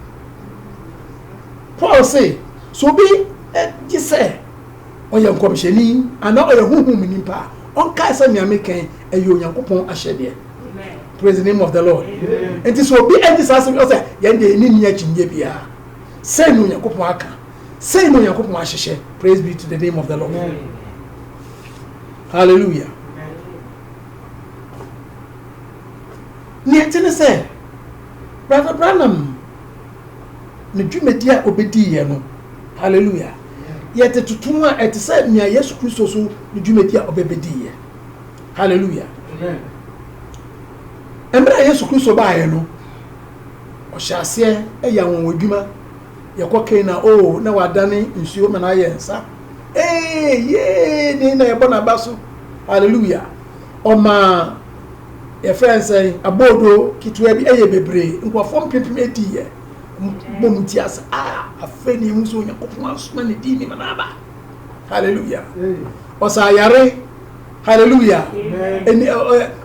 Paul se, Sɛ obi gye sɛ ɔyɛ nkɔmhyɛni anaa ɔyɛ honhom mu nipa a, ɔnkae sɛ nea meka yi yɛ Onyankopɔn ahyɛdeɛ. Praise the name of the Lord. Enti sɛ obi anyi saa asɛm yi, ɔsɛ yɛn deɛ yɛne nni akyinnye biara. Sɛn na Onyankopɔn aka? Sɛn na Onyankopɔn ahyehyɛ? Praise be to the name of the Lord. Hallelujah. Nea ɛte ne sɛ, Brother Branham, ne dwumadi a obedi yɛ no, hallelujah, yɛde toto mu a ɛte sɛ nea Yesu Kristo so ne dwumadi a ɔbɛbedi yɛ. Hallelujah. Mmerɛ a Yesu Kristo baeɛ no, ɔhyɛ aseɛ yɛ anwanwadwuma Yɛkɔ Canaan a, oh, na wadane nsuo ma no ayɛ nsa. Ee, yee, ne na yɛbɔ n'aba so. Hallelujah. Ɔmaa yɛfrɛ nsɛn aboodo ketewa bi ɛyɛ bebree nkurɔfoɔ mpempem ɛdiiɛ bɔ mu ti ase a afei ne ɛhu sɛ onyankopɔn asoma ne dii nima no aba halleluya ɔsa ayare halleluya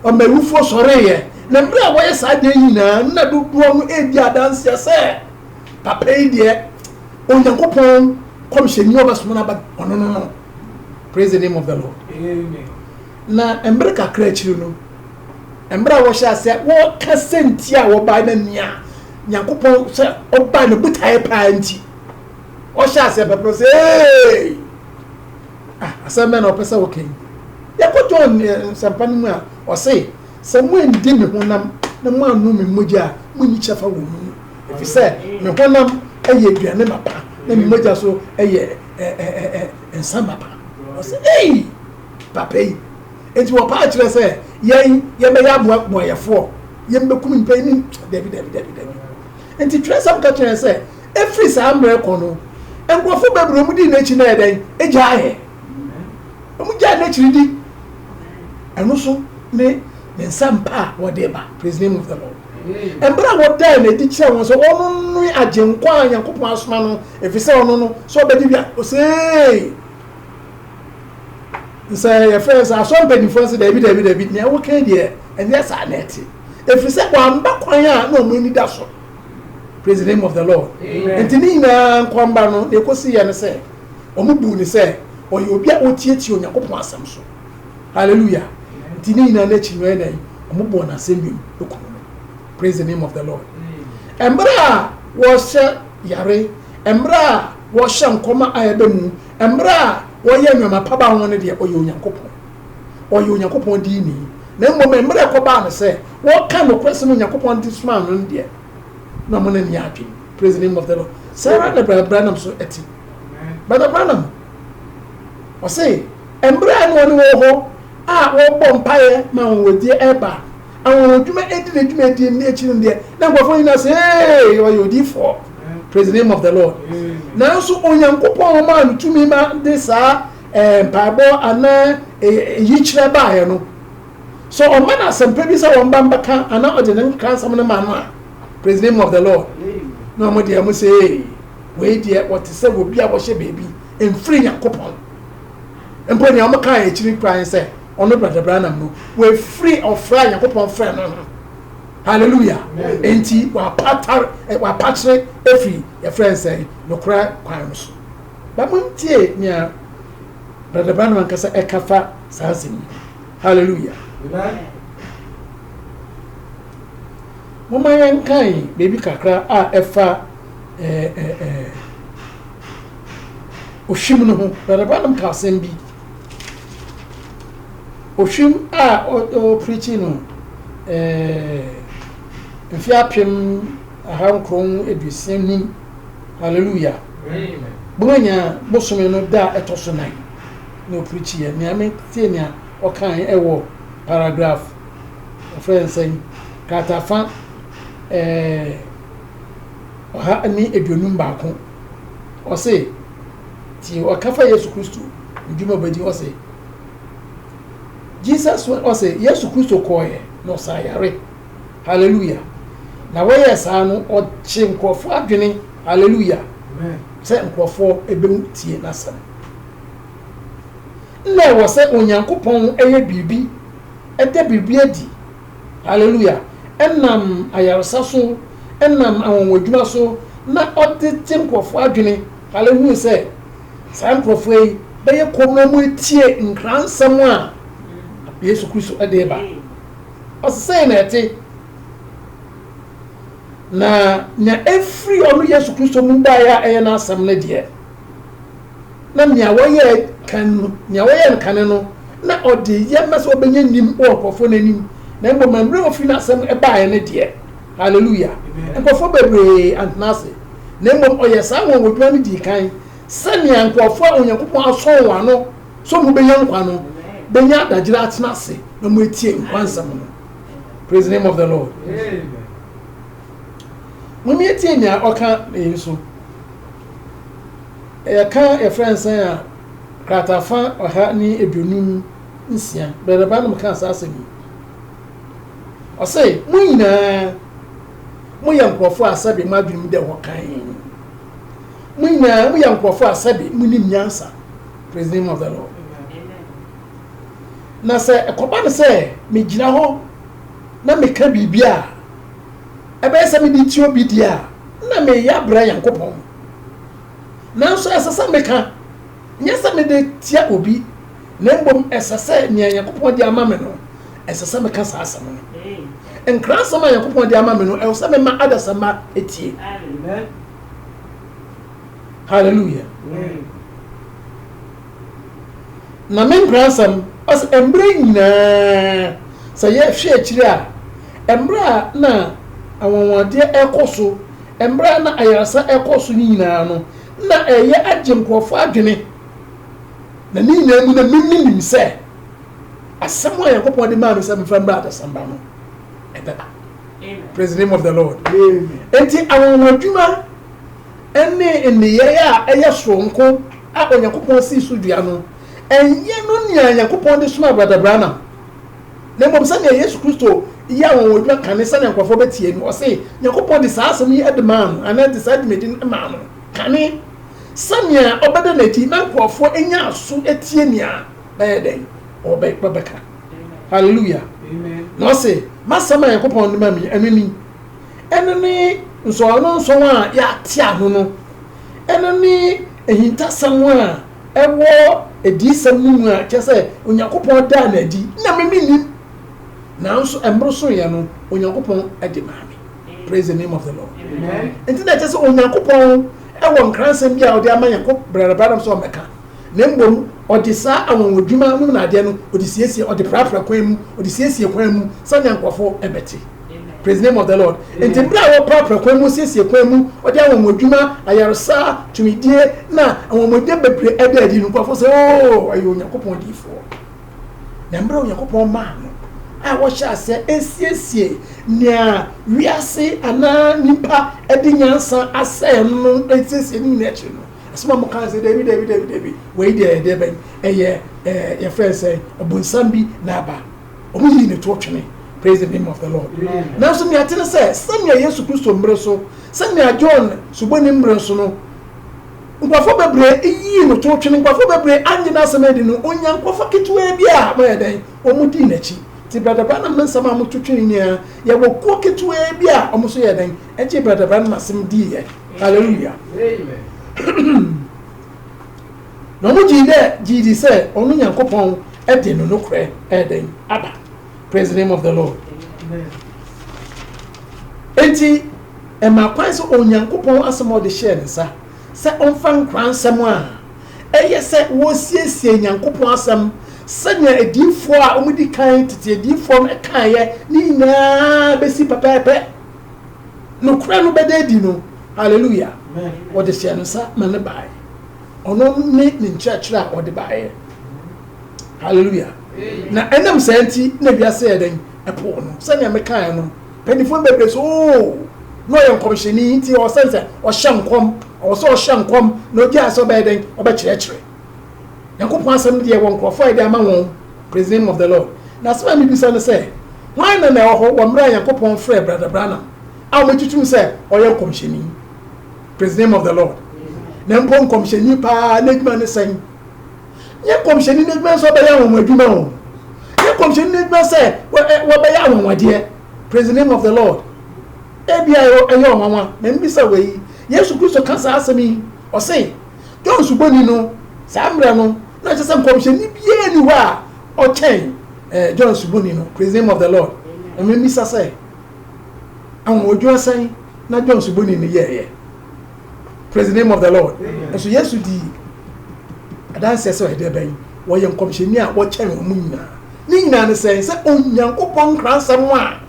ɔma awufoɔ sɔreeɛ na mmerɛ a wɔyɛ saa deɛ nyinaa na dodoɔ no ɛdi adanseɛ sɛ Papa yi deɛ Onyankopɔn kɔmhyɛni a ɔbɛsoma no aba ɔno no no. Praise the name of the Lord. Amen. Na mmerɛ kakra akyiri no, mmerɛ a wɔhyɛ aseɛ wɔka sɛ nti a wɔbae na nea Nyankopɔn sɛ ɔbae no botaeɛ paa nti ɔhyɛ aseɛ pɛpɛ sɛ ee ah, asɛm bɛn na ɔpɛ sɛ wɔka yi yɛkɔ John eh, nsɛmpa no mu a ɔse sɛ moandi me honam na moannom me mogya a monni kyɛfa wɔ mu ɛfiri sɛ me honam yɛ aduane mapa na me mogya so yɛ nsa mapa ɔsɛ ei papa yi nti wɔpaa kyerɛ sɛ yɛn yɛbɛyɛ aboaboayɛfoɔ yɛn bɛkum nipa yi ne dabi dabi dabi dabi nti twerɛ sɛm ka kyerɛ sɛ ɛfiri saa mmerɛ kɔ no nkurɔfo bebree mu di n'akyi na ɛdɛn agya ayɛ wɔn gya n'akyiri di ɛno so ne ne nsa mpa a wɔde ba praise name of the lord. Bere a wɔdaa no adi kyerɛɛ wɔn sɛ ɔno ne Agyenkwa a Nyankopɔn asoma no, efisɛ ɔno no, sɛ ɔbɛgye wia osee. Sɛ yɛfrɛ sɛ asɔre mpanyimfoɔ nso, daabi, daabi, daabi, nea woka deɛ ɛnyɛ saa na ɛte, efisɛ wamba kwan a na wɔn ani da so. Praise the name of the Lord. Nti ne nyinaa nkɔmba no, deɛ ɛkɔsi yɛ no sɛ, wɔn buu no sɛ ɔyɛ obi a ɔtiatia Onyankopɔn asɛm so. Hallelujah nti ne nyinaa n'akyi no ɛyɛ dɛn wɔn bɔɔ n'asɛm bi mu kum no praise the name of the lord mmerɛ a wɔhyɛ yare mmerɛ a wɔhyɛ nkɔma a ɛbɛ mu mmerɛ a wɔyɛ nneɛma pa ba ho no deɛ ɔyɛ onyankopɔn ɔyɛ onyankopɔn dii ni na mmom mmerɛ ɛkɔbaa no sɛ wɔka nokorɛ sɛ no onyankopɔn de soma no deɛ na ɔmo ne ne adwene praise the name of the lord saa ara na brabra nam so ɛte brabra nam ɔse Mber a nna hɔn wɔ hɔ a wɔbɔ mpaeɛ ma anwanwadie reba a, anwanwadwuma edi ne dwumadie no, na akyiri no deɛ na nkorɔfoɔ nyinaa sɛ, Eeii! Ɔyɛ odiyifoɔ! Praise the name of the Lord! Nanso Onyankopɔn maa no tumi ma de saa eh, mpaebɔ anaa eh, yikyerɛ baeɛ no. Sɛ ɔma no asɛmpa bi sɛ wɔmba mbɛka anaa ɔde ne nkransɛm no ma no a, praise the name of the Lord, na wɔn deɛ wɔn sɛ, Eeii! Wei deɛ ɔte sɛ obi a wɔhyɛ baabi, mfiri Nyankopɔn. Mpo nea wɔkaa akyiri koraa ne sɛ ɔno Brɔda Branham no, wafiri ɔfrɛ a Nyankopɔn frɛɛ no ho. Hallelujah! Enti wapata, wapakyere afiri, yɛfrɛ no sɛn, nokorɛ kwan no so. Ba montie nea Brɔda Branham ankasa ɛka fa saa asɛm yi ho. Hallelujah! Momma yɛnkan biribi kakra a ɛfa ɛɛ ɛɛ Ohwim no ho. Bɛrɛbanom ka asɛm bi. Ohwim a ɔpirikyi no mfe apem aha nkron aduosia num. Hallelujah. Bumanya bosome no da a ɛtɔ so nan na ɔpirikyi yɛ. Nea metie nea ɔkae ɛwɔ paragraph ɔfrɛ nsɛn kratafa ɛɛ ɔha ne aduonum baako, ɔse, tie ɔka fa Yesu Kristo ndwuma bɛdi ɔse, Jesus went, ɔse, Yesu Kristo kɔɔɛ na ɔsaa yare, hallelujah, na wɔyɛɛ saa no ɔkye nkurɔfoɔ adwene, hallelujah, sɛ nkurɔfoɔ ɛbɛmu tie n'asɛm. Nna ɛwɔ sɛ Onyankopɔn yɛ biribi, ɛda biribi adi, Hallelujah! Ɛnam ayaresa so, ɛnam anwanwadwuma so na ɔde gye nkurɔfoɔ adwene. Hallelujah! Wohunu sɛ saa nkurɔfoɔ yi bɛyɛ komm na wɔatie nkransɛm a Yesu Kristo de reba. Ɔse sɛn na ɛte? Na nea ɛfiri ɔno Yesu Kristo mu baeɛ a ɛyɛ n'asɛm no deɛ, na nea wɔyɛɛ kan no, nea wɔyɛɛ no kane no, na ɔde yɛ ma sɛ ɔbɛnya nim wɔ nkurɔfoɔ no anim, na mmom mmerɛ ɔfiri n'asɛm baeɛ no deɛ, Hallelujah, nkurɔfoɔ bebree antena ase, na mmom ɔyɛɛ saa anwanwadwuma no dii kan, sɛnea nkurɔfoɔ a Onyankopɔn asɔ wɔn ano sɛ wɔbɛnya nkwa no bɛnya adagyera atena ase na wɔatie nkwa nsɛm no. Praise the name of the Lord. Amen. Mom yɛtie nea ɔka ne nso. Yɛka yɛfrɛ nsɛn a, kratafa ɔha ne aduonum nsia. Brɛda Branham kaa saa asɛm yi. Ɔse, mo nyinaa moyɛ nkurɔfoɔ a sɛbe mo adwenem dɛ hɔ kann. Mo nyinaa moyɛ nkurɔfoɔ a sɛbe monim nyansa. Praise the name of the Lord. Na sɛ ɛkɔba no sɛ megyina hɔ na meka biribi a, Ɛbɛyɛ sɛ mede tie obi deɛ a, na mereyɛ abrɛ Nyankopɔn. Nanso ɛsɛ sɛ meka, nyɛ sɛ mede tia obi, na mmom ɛsɛ sɛ nea Nyankopɔn de ama me no, ɛsɛ sɛ meka saa asɛm no. Nkrasɛm a Nyankopɔn de ama me no, ɛwɔ sɛ mema adasamma tie. Hallelujah. Na me nkransɛm, ɔsɛ mbrɛ nyina, sɛ yɛ hwɛ ekyir a, mbrɛ a na anwanwadeɛ ɛkɔ so, mbrɛ a na ayarsa ɛkɔ so ne nyina no, nna ɛyɛ agye nkorɔfo adwene. Na ne nyina mu no, me minim sɛ asɛm a Nyankopɔn de maa me sɛ mfa mbra adasamba no, ɛbɛba. Praise the name of the Lord. Amen. Enti anwanwadwuma ne nneyɛe a ɛyɛ soronko a Onyankopɔn sii so dua no, ɛnyɛ no nea Nyankopɔn de somaa Brɔda Branham, na mmom sɛnea Yesu Kristo yɛɛ anwanwadwuma kane sɛnea nkurɔfo betie no. Ɔse Nyankopɔn de saa asɛm yi de maa no, anaa de saa dwumadi no maa no, kane sɛnea ɔbɛda no adi na nkurɔfo anya aso atie nea bɛyɛ dɛn? Ɔbɛka. Hallelujah! Na ɔse, M'asɛm a Nyankopɔn de ma me, ɛno ni. ɛno ne nsɔwanonsɔn a yɛatea ho no, ɛno ne ahintasɛm a ɛwɔ adiyisɛm no mu a kyerɛ sɛ Onyankopɔn daa no adi na me mennim, nanso mmere soeɛ no Onyankopɔn de maa me. Praise the name of the Lord. Nti na ɛkyɛ sɛ Onyankopɔn ɛwɔ nkransɛm bi a ɔde ama yɛn kɔ Brɛda Branham sɛ ɔmmɛka, na mmom ɔde saa anwanwadwuma nom na adeɛ no ɔde siesie, ɔde prapra kwan mu, ɔde siesie kwan mu sɛnea nkurɔfoɔ ɛbɛte. Praise name of the Lord. Nti bere a wɔprapra kwan mu siesie kwan mu, wɔde anwonwadwuma, ayaresa, tumidie na anwonwade bebree ɛda adi no, nkurɔfo sɛ, oo, ɔyɛ Onyankopɔn diifoɔ. Na mmerɛ Onyankopɔn maa no a wɔhyɛ aseɛ ɛsiesie nea wiase anaa nipa ɛde nyansa asɛe no no ɛsiesie no nyinaa akyiri no, ɛsoma mo kan sɛ, dabi, dabi, dabi, dabi, wei deɛ ɛdeɛ bɛn, ɛyɛ ɛɛ yɛfrɛ sɛ ɔbonsam bi na aba. Wɔn yii ne toɔ twene. Praise the name of the Lord. Nanso nea ɛte ne sɛ sɛnea Yesu Kristo mmere so, sɛnea John Suboni mmere so no, nkurɔfoɔ bebree yii no toɔ twene, nkurɔfoɔ bebree annye n'asɛm adi no, onya nkurɔfoɔ ketewaa bi a wɔyɛ dɛn, wɔn dii n'akyi. Ti Brada Branham ne nsɛm a wɔto twene nyinaa, yɛwɔ kuo ketewaa bi a wɔn nso yɛ dɛn, ɛgye Brada Branham asɛm diiɛ. Hallelujah. na ɔmo gyee dɛ gyee dzi sɛ ɔno Nyankopɔn dze no nokorɛ redɛn aba, praise the name of the Lord. Enti ɛmaa kwan sɛ Onyankopɔn asɛm a ɔde hyɛɛ ne nsa sɛ ɔmfa nkora nsɛm a ɛyɛ sɛ wɔresiesie Nyankopɔn asɛm sɛnea adiyifoɔ a wɔn di kan tete adiyifoɔ no kaeɛ ne nyinaa bɛsi pɛpɛɛpɛ nokorɛ no bɛda adi no hallelujah wɔde hyɛɛ no nsa ma ne baeɛ ɔno ne ne nkyerɛkyerɛ a ɔde baeɛ hallelujah na ɛnam saa nti na wiase yɛ dɛn ɛpo no sɛnea mekaeɛ no mpanimfoɔ bebree so oo na ɔyɛ nkɔmhyɛni nti ɔsɛn sɛ ɔhyɛ nkɔm ɔwɔ sɛ ɔhyɛ nkɔm na ogyaa sɛ ɔbɛyɛ dɛn ɔbɛkyerɛkyerɛ nyankopɔn asɛm deɛ wɔ nkurɔfoɔ a yɛde ama wɔn praise the name of the lord na asɛm a mebisa no sɛ hwan na na ɛwɔ hɔ wɔ mmerɛ a nyankopɔn frɛ brada branam a wɔatutum sɛ ɔyɛ nkɔmhyɛni Praise the name of the Lord. Na mpo nkɔmhyɛni paa n'adwuma ne sɛn? Nyɛ nkɔmhyɛni n'adwuma nso ɔbɛyɛ anwanwa adwuma o. Nyɛ nkɔmhyɛni n'adwuma sɛ wɔbɛyɛ anwanwadeɛ. Praise the name of the Lord. Ebi a ɛyɛ ɔnwanwa na mbisa wɔ yi. Yesu Kristo ka saa asɛm yi, ɔse, John Suboni no, saa mmerɛ no, na kyerɛ sɛ nkɔmhyɛni biara ni hɔ a ɔkyɛn eh, John Suboni no. Praise the name of the Lord. Na mbisa sɛ, Anwonwadwuma sɛn na John Suboni no yɛeɛ? Praise the name of the Lord. Nso Yesu dii adanseɛ sɛ ɔyɛ dɛbɛn? Ɔyɛ nkɔmhyɛni a wɔkyɛn wɔn nyinaa. Ne nyinaa ne sɛn? Sɛ Onyankopɔn nkransɛm a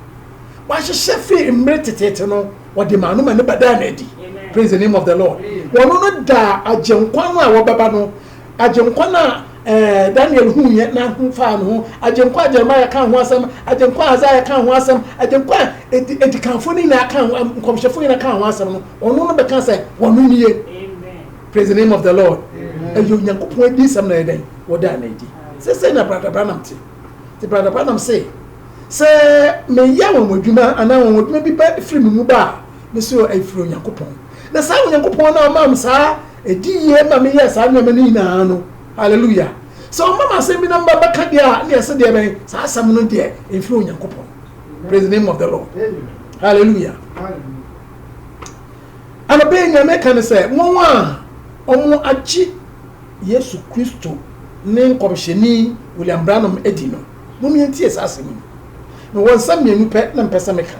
wahyehyɛ firi mmere teteete no, ɔde maa no ma ne ba daa no adi. Praise the name of the Lord. Ɔno no daa Agyenkwa no a ɔbɛba no Agyenkwa no a Daniel huiɛ na ho faa ne ho, Agyenkwa a Jeremiah kaa ho asɛm, Agyenkwa a Isaiah kaa ho asɛm, Agyenkwa a adikanfoɔ no nyinaa kaa ho, nkɔmhyɛfoɔ nyinaa kaa ho asɛm no, ɔno no bɛka sɛ, Ɔno nie. Praise the name of the Lord. Ɛyɛ Onyankopɔn adiyisɛm na ɛyɛ dɛn? Wɔdaa no adi. Sɛsɛ na Brada Branham te. Te Brada Branham se, sɛ meyɛ wɔn adwuma anaa wɔn adwuma bi ba firi me mu ba a, me so ɛfiri Onyankopɔn. Na saa Onyankopɔn no a ɔmaa me saa Ɛdi yie ma meyɛ saa nneɛma no nyinaa no. Hallelujah! Sɛ wɔma me asɛm bi na meba bɛka deɛ a, na ɛsɛ deɛ bɛn? Saa asɛm no deɛ, ɛmfiri Onyankopɔn. Praise the name of the Lord. Hallelujah! Anɔpa yi nea meka ne sɛ, wɔn a wɔn agye Yesu Kristo ne nkɔmhyɛni William Branham adi no, mom yɛntie saa asɛm yi. Mewɔ nsɛm mmienu pɛ na mpɛ sɛ meka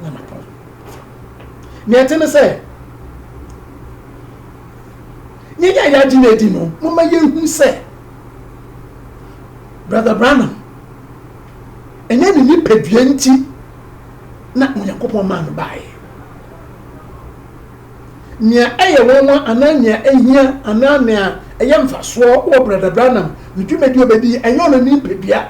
na mapɔn. Nea ɛte ne sɛ, yɛn a yɛagye no adi no, momma yɛnhu sɛ Brother Branham, ɛnyɛ ne nipadua nti na Onyankopɔn maa no baeɛ. Nea ɛyɛ nwanwa anaa nea ɛhia anaa nea ɛyɛ mfasoɔ wɔ Brother Branham ne dwumadi ɔbɛdi ɛnyɛ ɔno ne nipadua,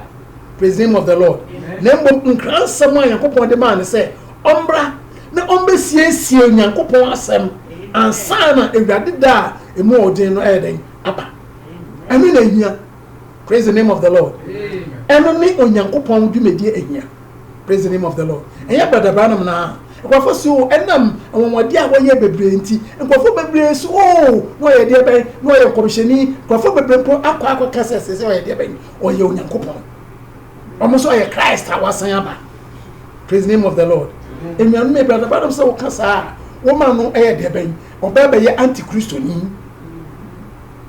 praise the name of the Lord, na mmom nkransɛm a Nyankopɔn de maa no sɛ Ɔmmra na ɔmmɛsiesie Nyankopɔn asɛm ansa na Awurade da a ɛmu ɔɔ den no ayɛ dɛn? Aba. Ɛno na ɛhia. Praise the name of the Lord. Ɛno ne Onyankopɔn dwumadie ɛhia. Praise the name of the Lord. Ɛnyɛ Brother Branham no aa. Nkurɔfoɔ se oo ɛnam anwanwadeɛ a wɔyɛɛ bebree nti, nkurɔfoɔ bebree se oo na ɔyɛ deɛ bɛn? Na ɔyɛ nkɔmhyɛni. Nkurɔfoɔ bebree mpo akɔ akɔka sɛ seesei ɔyɛ deɛ bɛn? Ɔyɛ Onyankopɔn. Wɔn se ɔyɛ Christ a wasan aba. Praise the name of the Lord. Enuanom ebi ɔdɔ bɛdɔm sɛ woka saa a woma no ɛyɛ deɛ bɛn ɔbɛɛ bɛyɛ anti kristoni.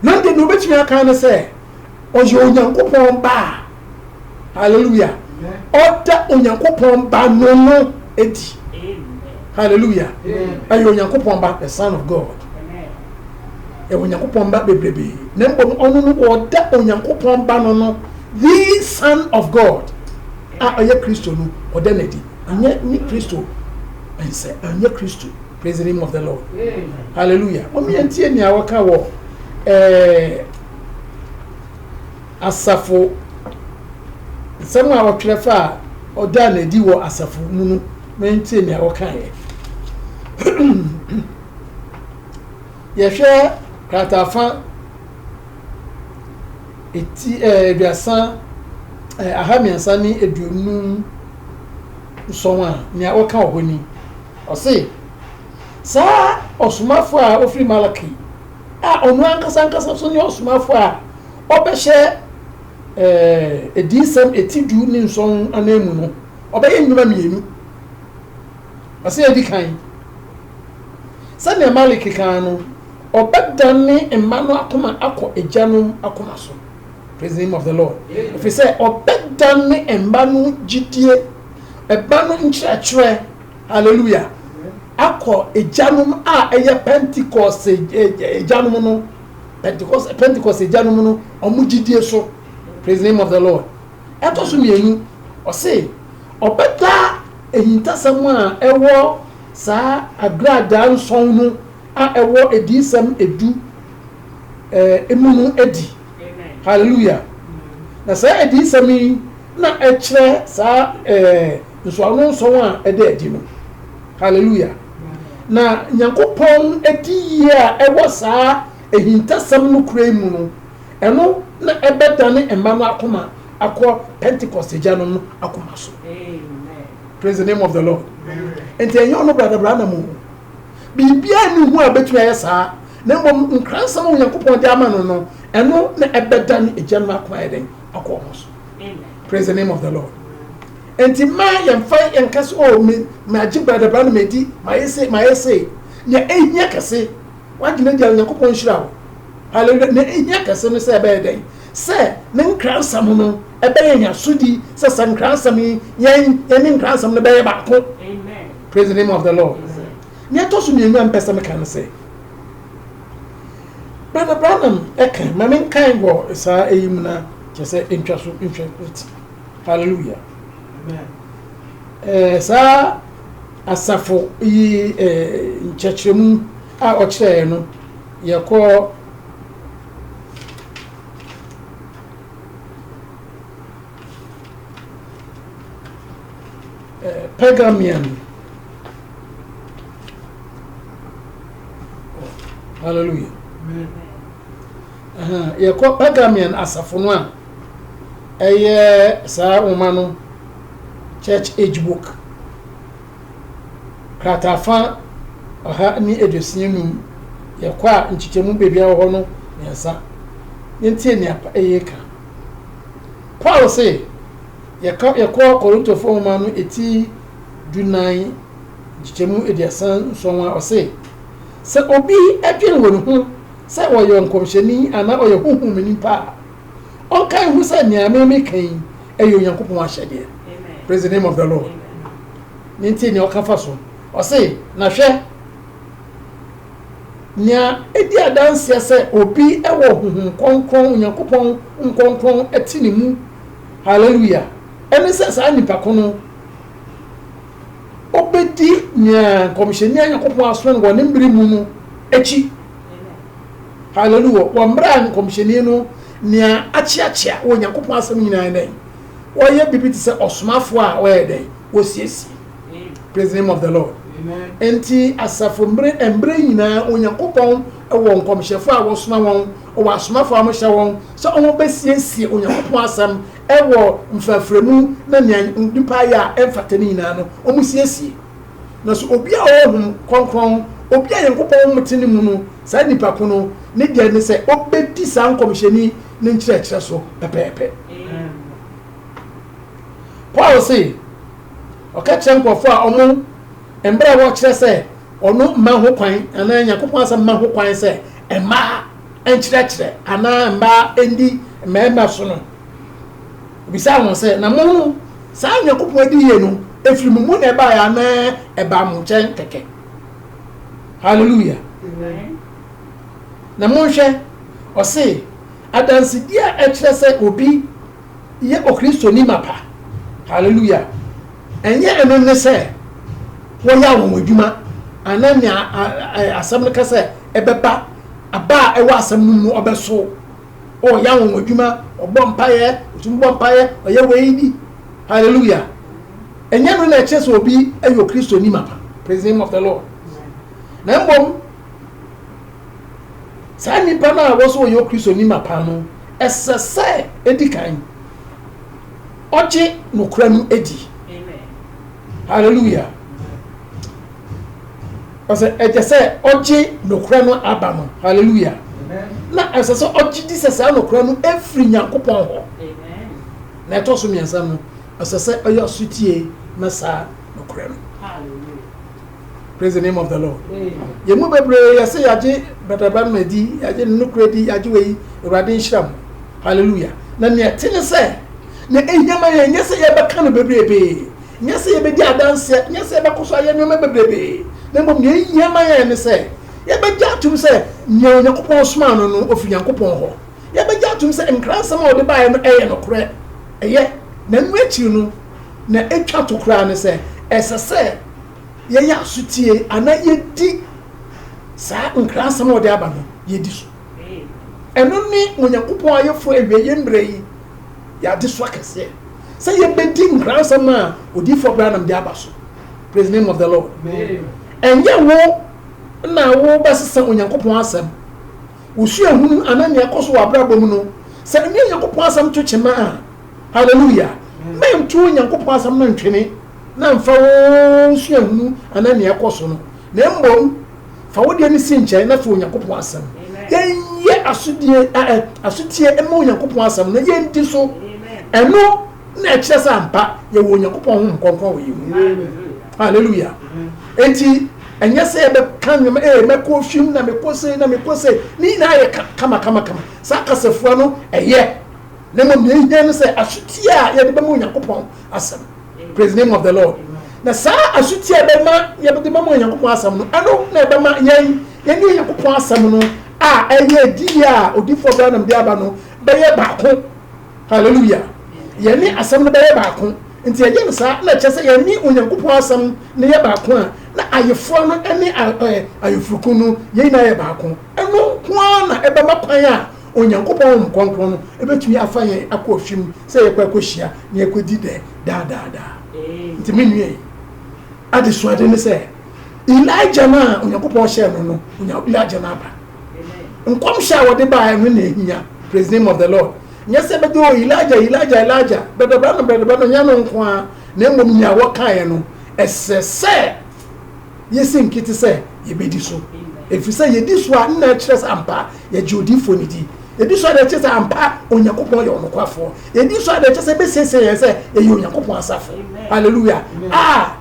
Na deɛ na obetumi aka ne sɛ ɔyɛ Onyankopɔn ba a hallelujah ɔda Onyankopɔn ba no no edi hallelujah ɛyɛ Onyankopɔn ba the son of God ɛwɔ Onyankopɔn ba bebrebe na mbom ɔno no ɔda Onyankopɔn ba no no the son of God. A ɔyɛ Kristo no, ɔda no adi. Ɔnyɛ ne Kristo nsɛ, ɔnyɛ Kristo. Praise the name of the Lord. Hallelujah. Mom yɛn tie nea wɔka wɔ ɛɛ asafo nsɛm a wɔtwerɛ fa a ɔdaa no adi wɔ asafo mu no. Mom yɛn tie nea wɔka yɛ. Yɛhwɛ kratafa. eti ɛɛ eh, aduasa ɛɛ eh, aha mmiɛnsa ne aduonum nsɔn a nea ɔka wɔ hɔ ni ɔse saa ɔsomafo a ofiri malaki a ɔno ankasa ankasa so ne ɔsomafo a ɔbɛhyɛ ɛɛ eh, ediyisɛm eti du ne nsɔn anan mu no ɔbɛyɛ nnwuma mmienu ɔse edi kan sɛnea malaki kan no Ɔbɛdane mma no akoma akɔ agyanom akoma so, praise the name of the Lord, ɛfiri sɛ ɔbɛdane mma no gyidie, mma no nkyerɛkyerɛ, hallelujah, akɔ agyanom a ɛyɛ Pentecost agyanom no, Pentecost, Pentecost agyanom no, wɔn gyidie so, praise the name of the Lord. Ɛtɔ so mmienu, ɔse ɔbɛda ahintasɛm a ɛwɔ saa agradaa nsɔn no a ɛwɔ Adiyisɛm edu mu no adi. Hallelujah! Na saa adiyisɛm yi na ɛkyerɛ saa nsɔano nson a ɛda adi no. Hallelujah! Na Nyankopɔn adiyie a ɛwɔ saa ahintasɛm no kura yi mu no, ɛno na ɛbɛdane mma no akoma akɔ Pentecost agyanom no akoma so. Praise the name of the Lord. Nti ɛnyɛ ɔno Brada Branham o, Biribiara nni ho a ebetumi ayɛ saa, na mmom nkransɛm a Onyankopɔn de ama no no, ɛno na ɛbɛda ne Agya no akwan ayɛ dɛn? Akɔ wɔn so. Praise the name of the Lord. Enti mma yɛmfa yɛnka sɛ, oh, me, magye bradabra na madi, mayɛ se, mayɛ se. Nea ehia kɛse, w'adwene deɛ Onyankopɔn nhyira wo. Hallelujah. Nea ehia kɛse no sɛ ɛbɛyɛ dɛn? Sɛ ne nkransɛm no ɛbɛyɛ yɛn asodi, sɛ sɛ nkransɛm yi, yɛn, yɛne nkransɛm no bɛyɛ baako. Amen. Praise the name of the Lord. Nea ɛtɔ so mmienu a mpɛ sɛ meka no sɛ, Brother Branham ɛka ma menkae wɔ saa ɛyi mu na kyerɛ sɛ ntwa so nhwɛ ti. Hallelujah. Ɛɛ saa asafo yi ɛɛ nkyerɛkyerɛmu a ɔkyerɛɛ no yɛkɔ eh, Pergamian. Oh, hallelujah. yɛkɔ Pergamian asafo no a ɛyɛ saa nwoma no church age book kratafa ɔha ne aduosia num yɛkɔ a nkyekyɛmu baabi a wɔ hɔ no mmiɛnsa yɛntie nea ɛyɛ ka Paul se, yɛka yɛkɔɔ Korintofo nwoma no eti dunan nkyekyɛmu aduasa nson a ɔse, sɛ obi dwen wɔ ne ho sɛ ɔyɛ ɔnkɔmhyɛni anaa ɔyɛ honhom mu nipa a, ɔnka nhu sɛ nea me meka yi ɛyɛ Onyankopɔn ahyɛdeɛ. Praise the name of the Lord. Ne nti nea ɔka fa so, ɔse, na hwɛ, Nea edi adanse sɛ obi wɔ honhom kronkron, Onyankopɔn honhom kronkron te ne mu, hallelujah, ne sɛ saa nipa ko no obedi nea nkɔmhyɛni a Nyankopɔn asoma no wɔ ne mmere mu no akyi. Hallelujah. Wɔ mmere a nkɔmhyɛni no nea akyeakyea wɔ Nyankopɔn asɛm nyinaa dɛn? Wɔyɛ biribi te sɛ ɔsomafo a wɔyɛ dɛn? Wɔsiesie. praise the name of the lord nti asafo mmerɛ mmerɛ nyinaa onyankopɔn wɔ nkɔmhyɛfoɔ a wɔsoma wɔn ɔwɔ asomafoɔ a wɔhyɛ wɔn sɛ wɔn bɛsiesie onyankopɔn asɛm ɛwɔ mfraframu na nea nipa ayɛ a ɛmfata ne nyinaa no wɔn siesie na so obi a ɔwɔ hom kɔnkɔn obi a nyankopɔn mete ne mu no saa nipa ko no ne deɛ ne sɛ ɔbɛdi saa nkɔmhyɛni ne nkyerɛkyerɛ so pɛpɛɛpɛ paul se Ɔka kyerɛ nkurɔfo a ɔmo mmerɛ a wɔkyerɛ sɛ ɔno mma ho kwan anaa Nyankopɔn asɛm mma ho kwan sɛ mmaa nkyerɛkyerɛ anaa mmaa ndi mmarima so no. Obisaa wɔn sɛ, na mo no, saa Nyankopɔn adiyie no, efiri mo mu na ɛbaeɛ anaa ɛbaa mo nkyɛn kɛkɛ? Hallelujah. Na monhwɛ, ɔse, adansedie a ɛkyerɛ sɛ obi yɛ Okristoni mapa. Hallelujah! Ɛnyɛ ɛno ne sɛ wɔyɛ anwonwadwuma anaa nea asɛm no ka sɛ ɛbɛba, aba a ɛwɔ asɛm no mu ɔbɛsow. O, ɔyɛ anwonwadwuma, ɔbɔ mpaeɛ, ɔtumi bɔ mpaeɛ, ɔyɛ wei bi. Hallelujah! Ɛnyɛ no na ɛkyerɛ sɛ obi yɛ Okristoni mapa. Praise the name of the Lord. Na mmom, saa nipa no a wɔsɔ wɔyɛ Okristoni mapa no, Ɛsɛ sɛ edi kan ɔgye nokora no di. Hallelujah. Ɔsɛ ɛgye sɛ ɔgye nokora no aba no. Hallelujah. Na ɛsɛ sɛ ɔgye di sɛ saa nokora no efiri Nyankopɔn hɔ. Na ɛtɔ so mmiɛnsa no, ɛsɛ sɛ ɔyɛ ɔsotie ma saa nokora no. Praise the name of the Lord. Yɛn mu bebree yɛ sɛ yɛagye Brother Branham adi, yɛagye ne nokorɛ di, yɛagye wei, Awurade nhyira mu. Hallelujah. Na nea ɛte ne sɛ, na ɛhia ma yɛn nyɛ sɛ yɛbɛka no bebrebe, nyɛ sɛ yɛbɛdi adanseɛ, nyɛ sɛ yɛbɛkɔ so ayɛ nneɛma bebrebe, na mmom nea ɛhia ma yɛn ne sɛ yɛbɛgye atom sɛ nea Onyankopɔn somaa no no, ɔfiri Nyankopɔn hɔ. Yɛbɛgye atom sɛ nkransɛm a ɔde baeɛ no ɛyɛ nokorɛ. Ɛyɛ. Na ɛno akyiri no, na ɛtwa to koraa ne sɛ ɛsɛ sɛ yɛyɛ aso tie anaa yɛdi saa nkrasɛm a ɔde aba no yɛdi so. Ɛno ne Onyankopɔn ayeforo awieɛ mmerɛ yi yɛ adesoa kɛseɛ, sɛ yɛbɛdi nkrasɛm a Odiyifoɔ Branham de aba so. Praise the name of the Lord. Ɛnyɛ wo na wobɛsesa Onyankopɔn asɛm, wo suahunu anaa nea ɛkɔ so wɔ abrabɔ mu no. Sɛ ɛne Onyankopɔn asɛm to kyema a, Hallelujah! Mɛnto Onyankopɔn Asɛm no ntwene na mfa wo suahunu anaa nea ɛkɔ so no, na mmom fa wo deɛ no si nkyɛn na fa Onyankopɔn Asɛm. Yɛnyɛ asodie, ɛ, asotie mma Onyankopɔn Asɛm no, na yɛndi so. Ɛno na ɛkyerɛ sɛ ampa yɛwɔ Onyankopɔn Honhom Kronkron wɔ yɛn mu. Hallelujah! Enti, ɛnyɛ sɛ yɛbɛka nneɛma, ee, mɛkɔ ofim na mekɔ sei na mekɔ sei, ne nyinaa yɛ ka, kama kama kama. Saa kasafua no, ɛyɛ. na mmom nea ehia ne sɛ asotie a yɛde bɛma Onyankopɔn asɛm. Praise name of the Lord. Na saa asotie a ɛbɛma yɛde bɛma Onyankopɔn asɛm no, ɛno na ɛbɛma yɛn yɛne Onyankopɔn asɛm no a ɛyɛ adiyɛ a odiyifoɔ Branham de aba no bɛyɛ baako. Hallelujah. Yɛne asɛm no bɛyɛ baako. Nti ɛyɛ no saa na ɛkyɛ sɛ yɛne Onyankopɔn asɛm no yɛ baako a na ayeforɔ no ne ayefurukun no yɛn nyinaa yɛ baako. Ɛno nko ara na ɛbɛma kwan a Onyankopɔn honhom kronkron no betumi afa yɛn akɔ ɔhwe mu sɛ yɛkɔ akohyia na yɛakodi dɛ daa daa daa. Enti me nua yi, adesuade ne sɛ, Elijah no a Onyankopɔn hyɛɛ no no, onya Elijah no aba. Nkɔmhyɛ a wɔde baeɛ no na ehia, praise name of the Lord. Nyɛ sɛ ɛbɛdɛ o, Elijah, Elijah, Elijah, bɛbɛba no, bɛbɛba no, nyɛ no nko ara, na mmom nea wɔkaeɛ no, ɛsɛ sɛ. Yesi nkete sɛ yebedi so, efisɛ yedi so a nna ɛkyerɛ sɛ ampa yɛgye odiyifo no di. Yedi so a na ɛkyerɛ sɛ ampa Onyankopɔn yɛ ɔnokwafo. Yedi so a na ɛkyerɛ sɛ ebesiesie yɛn sɛ yɛyɛ Onyankopɔn asafo. Hallelujah! A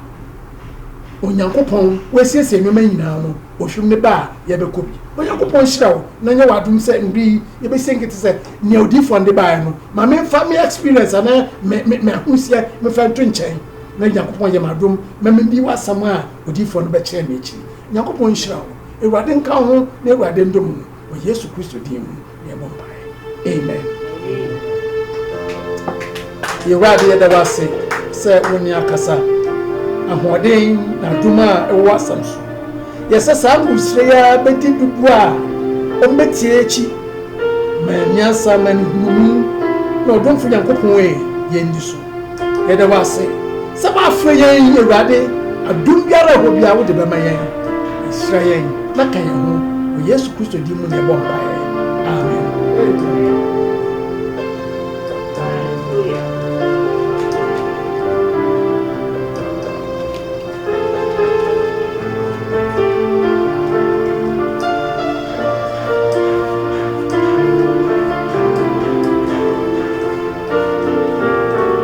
Onyankopɔn, wasiesie nneɛma nyinaa no, ohwim ne ba a yɛbɛkɔ bi. Onyankopɔn nhyira wo na nyɛ w'adom sɛ nnɛ yi yebesi nkete sɛ nea odiyifo no de bae no. Ma memfa me experience anaa me me me ahosia mfa nto nkyɛn. na Nyankopɔn ayɛ me adom ma medi w'asɛm a odiyifoɔ no bɛkyerɛɛ me akyi. Nyankopɔn nhyira wo. Awurade nka wo ho na Awurade ndom wo. Wɔ Yesu Kristo din mu na yɛbɔ mpaeɛ. Amen. Awurade yɛda wo ase sɛ wo ne akasa. Ahoɔden na adom a ɛwɔ asɛm so. Yɛsɛ saa nwosire yi ara bɛdi dodoɔ a wɔbɛtie akyi. Ma nyansa ma nhunumu na ɔdomfo Nyankopɔn e yɛn di so. Yɛda wo ase sɛ woafrɛ yɛn yi, Awurade. Adom biara a ɛwɔ hɔ biara, wode bɛma yɛn. Hyira yɛn na ka yɛn ho. Wɔ Yesu Kristo din mu na yɛbɔ mpaeɛ. Amen.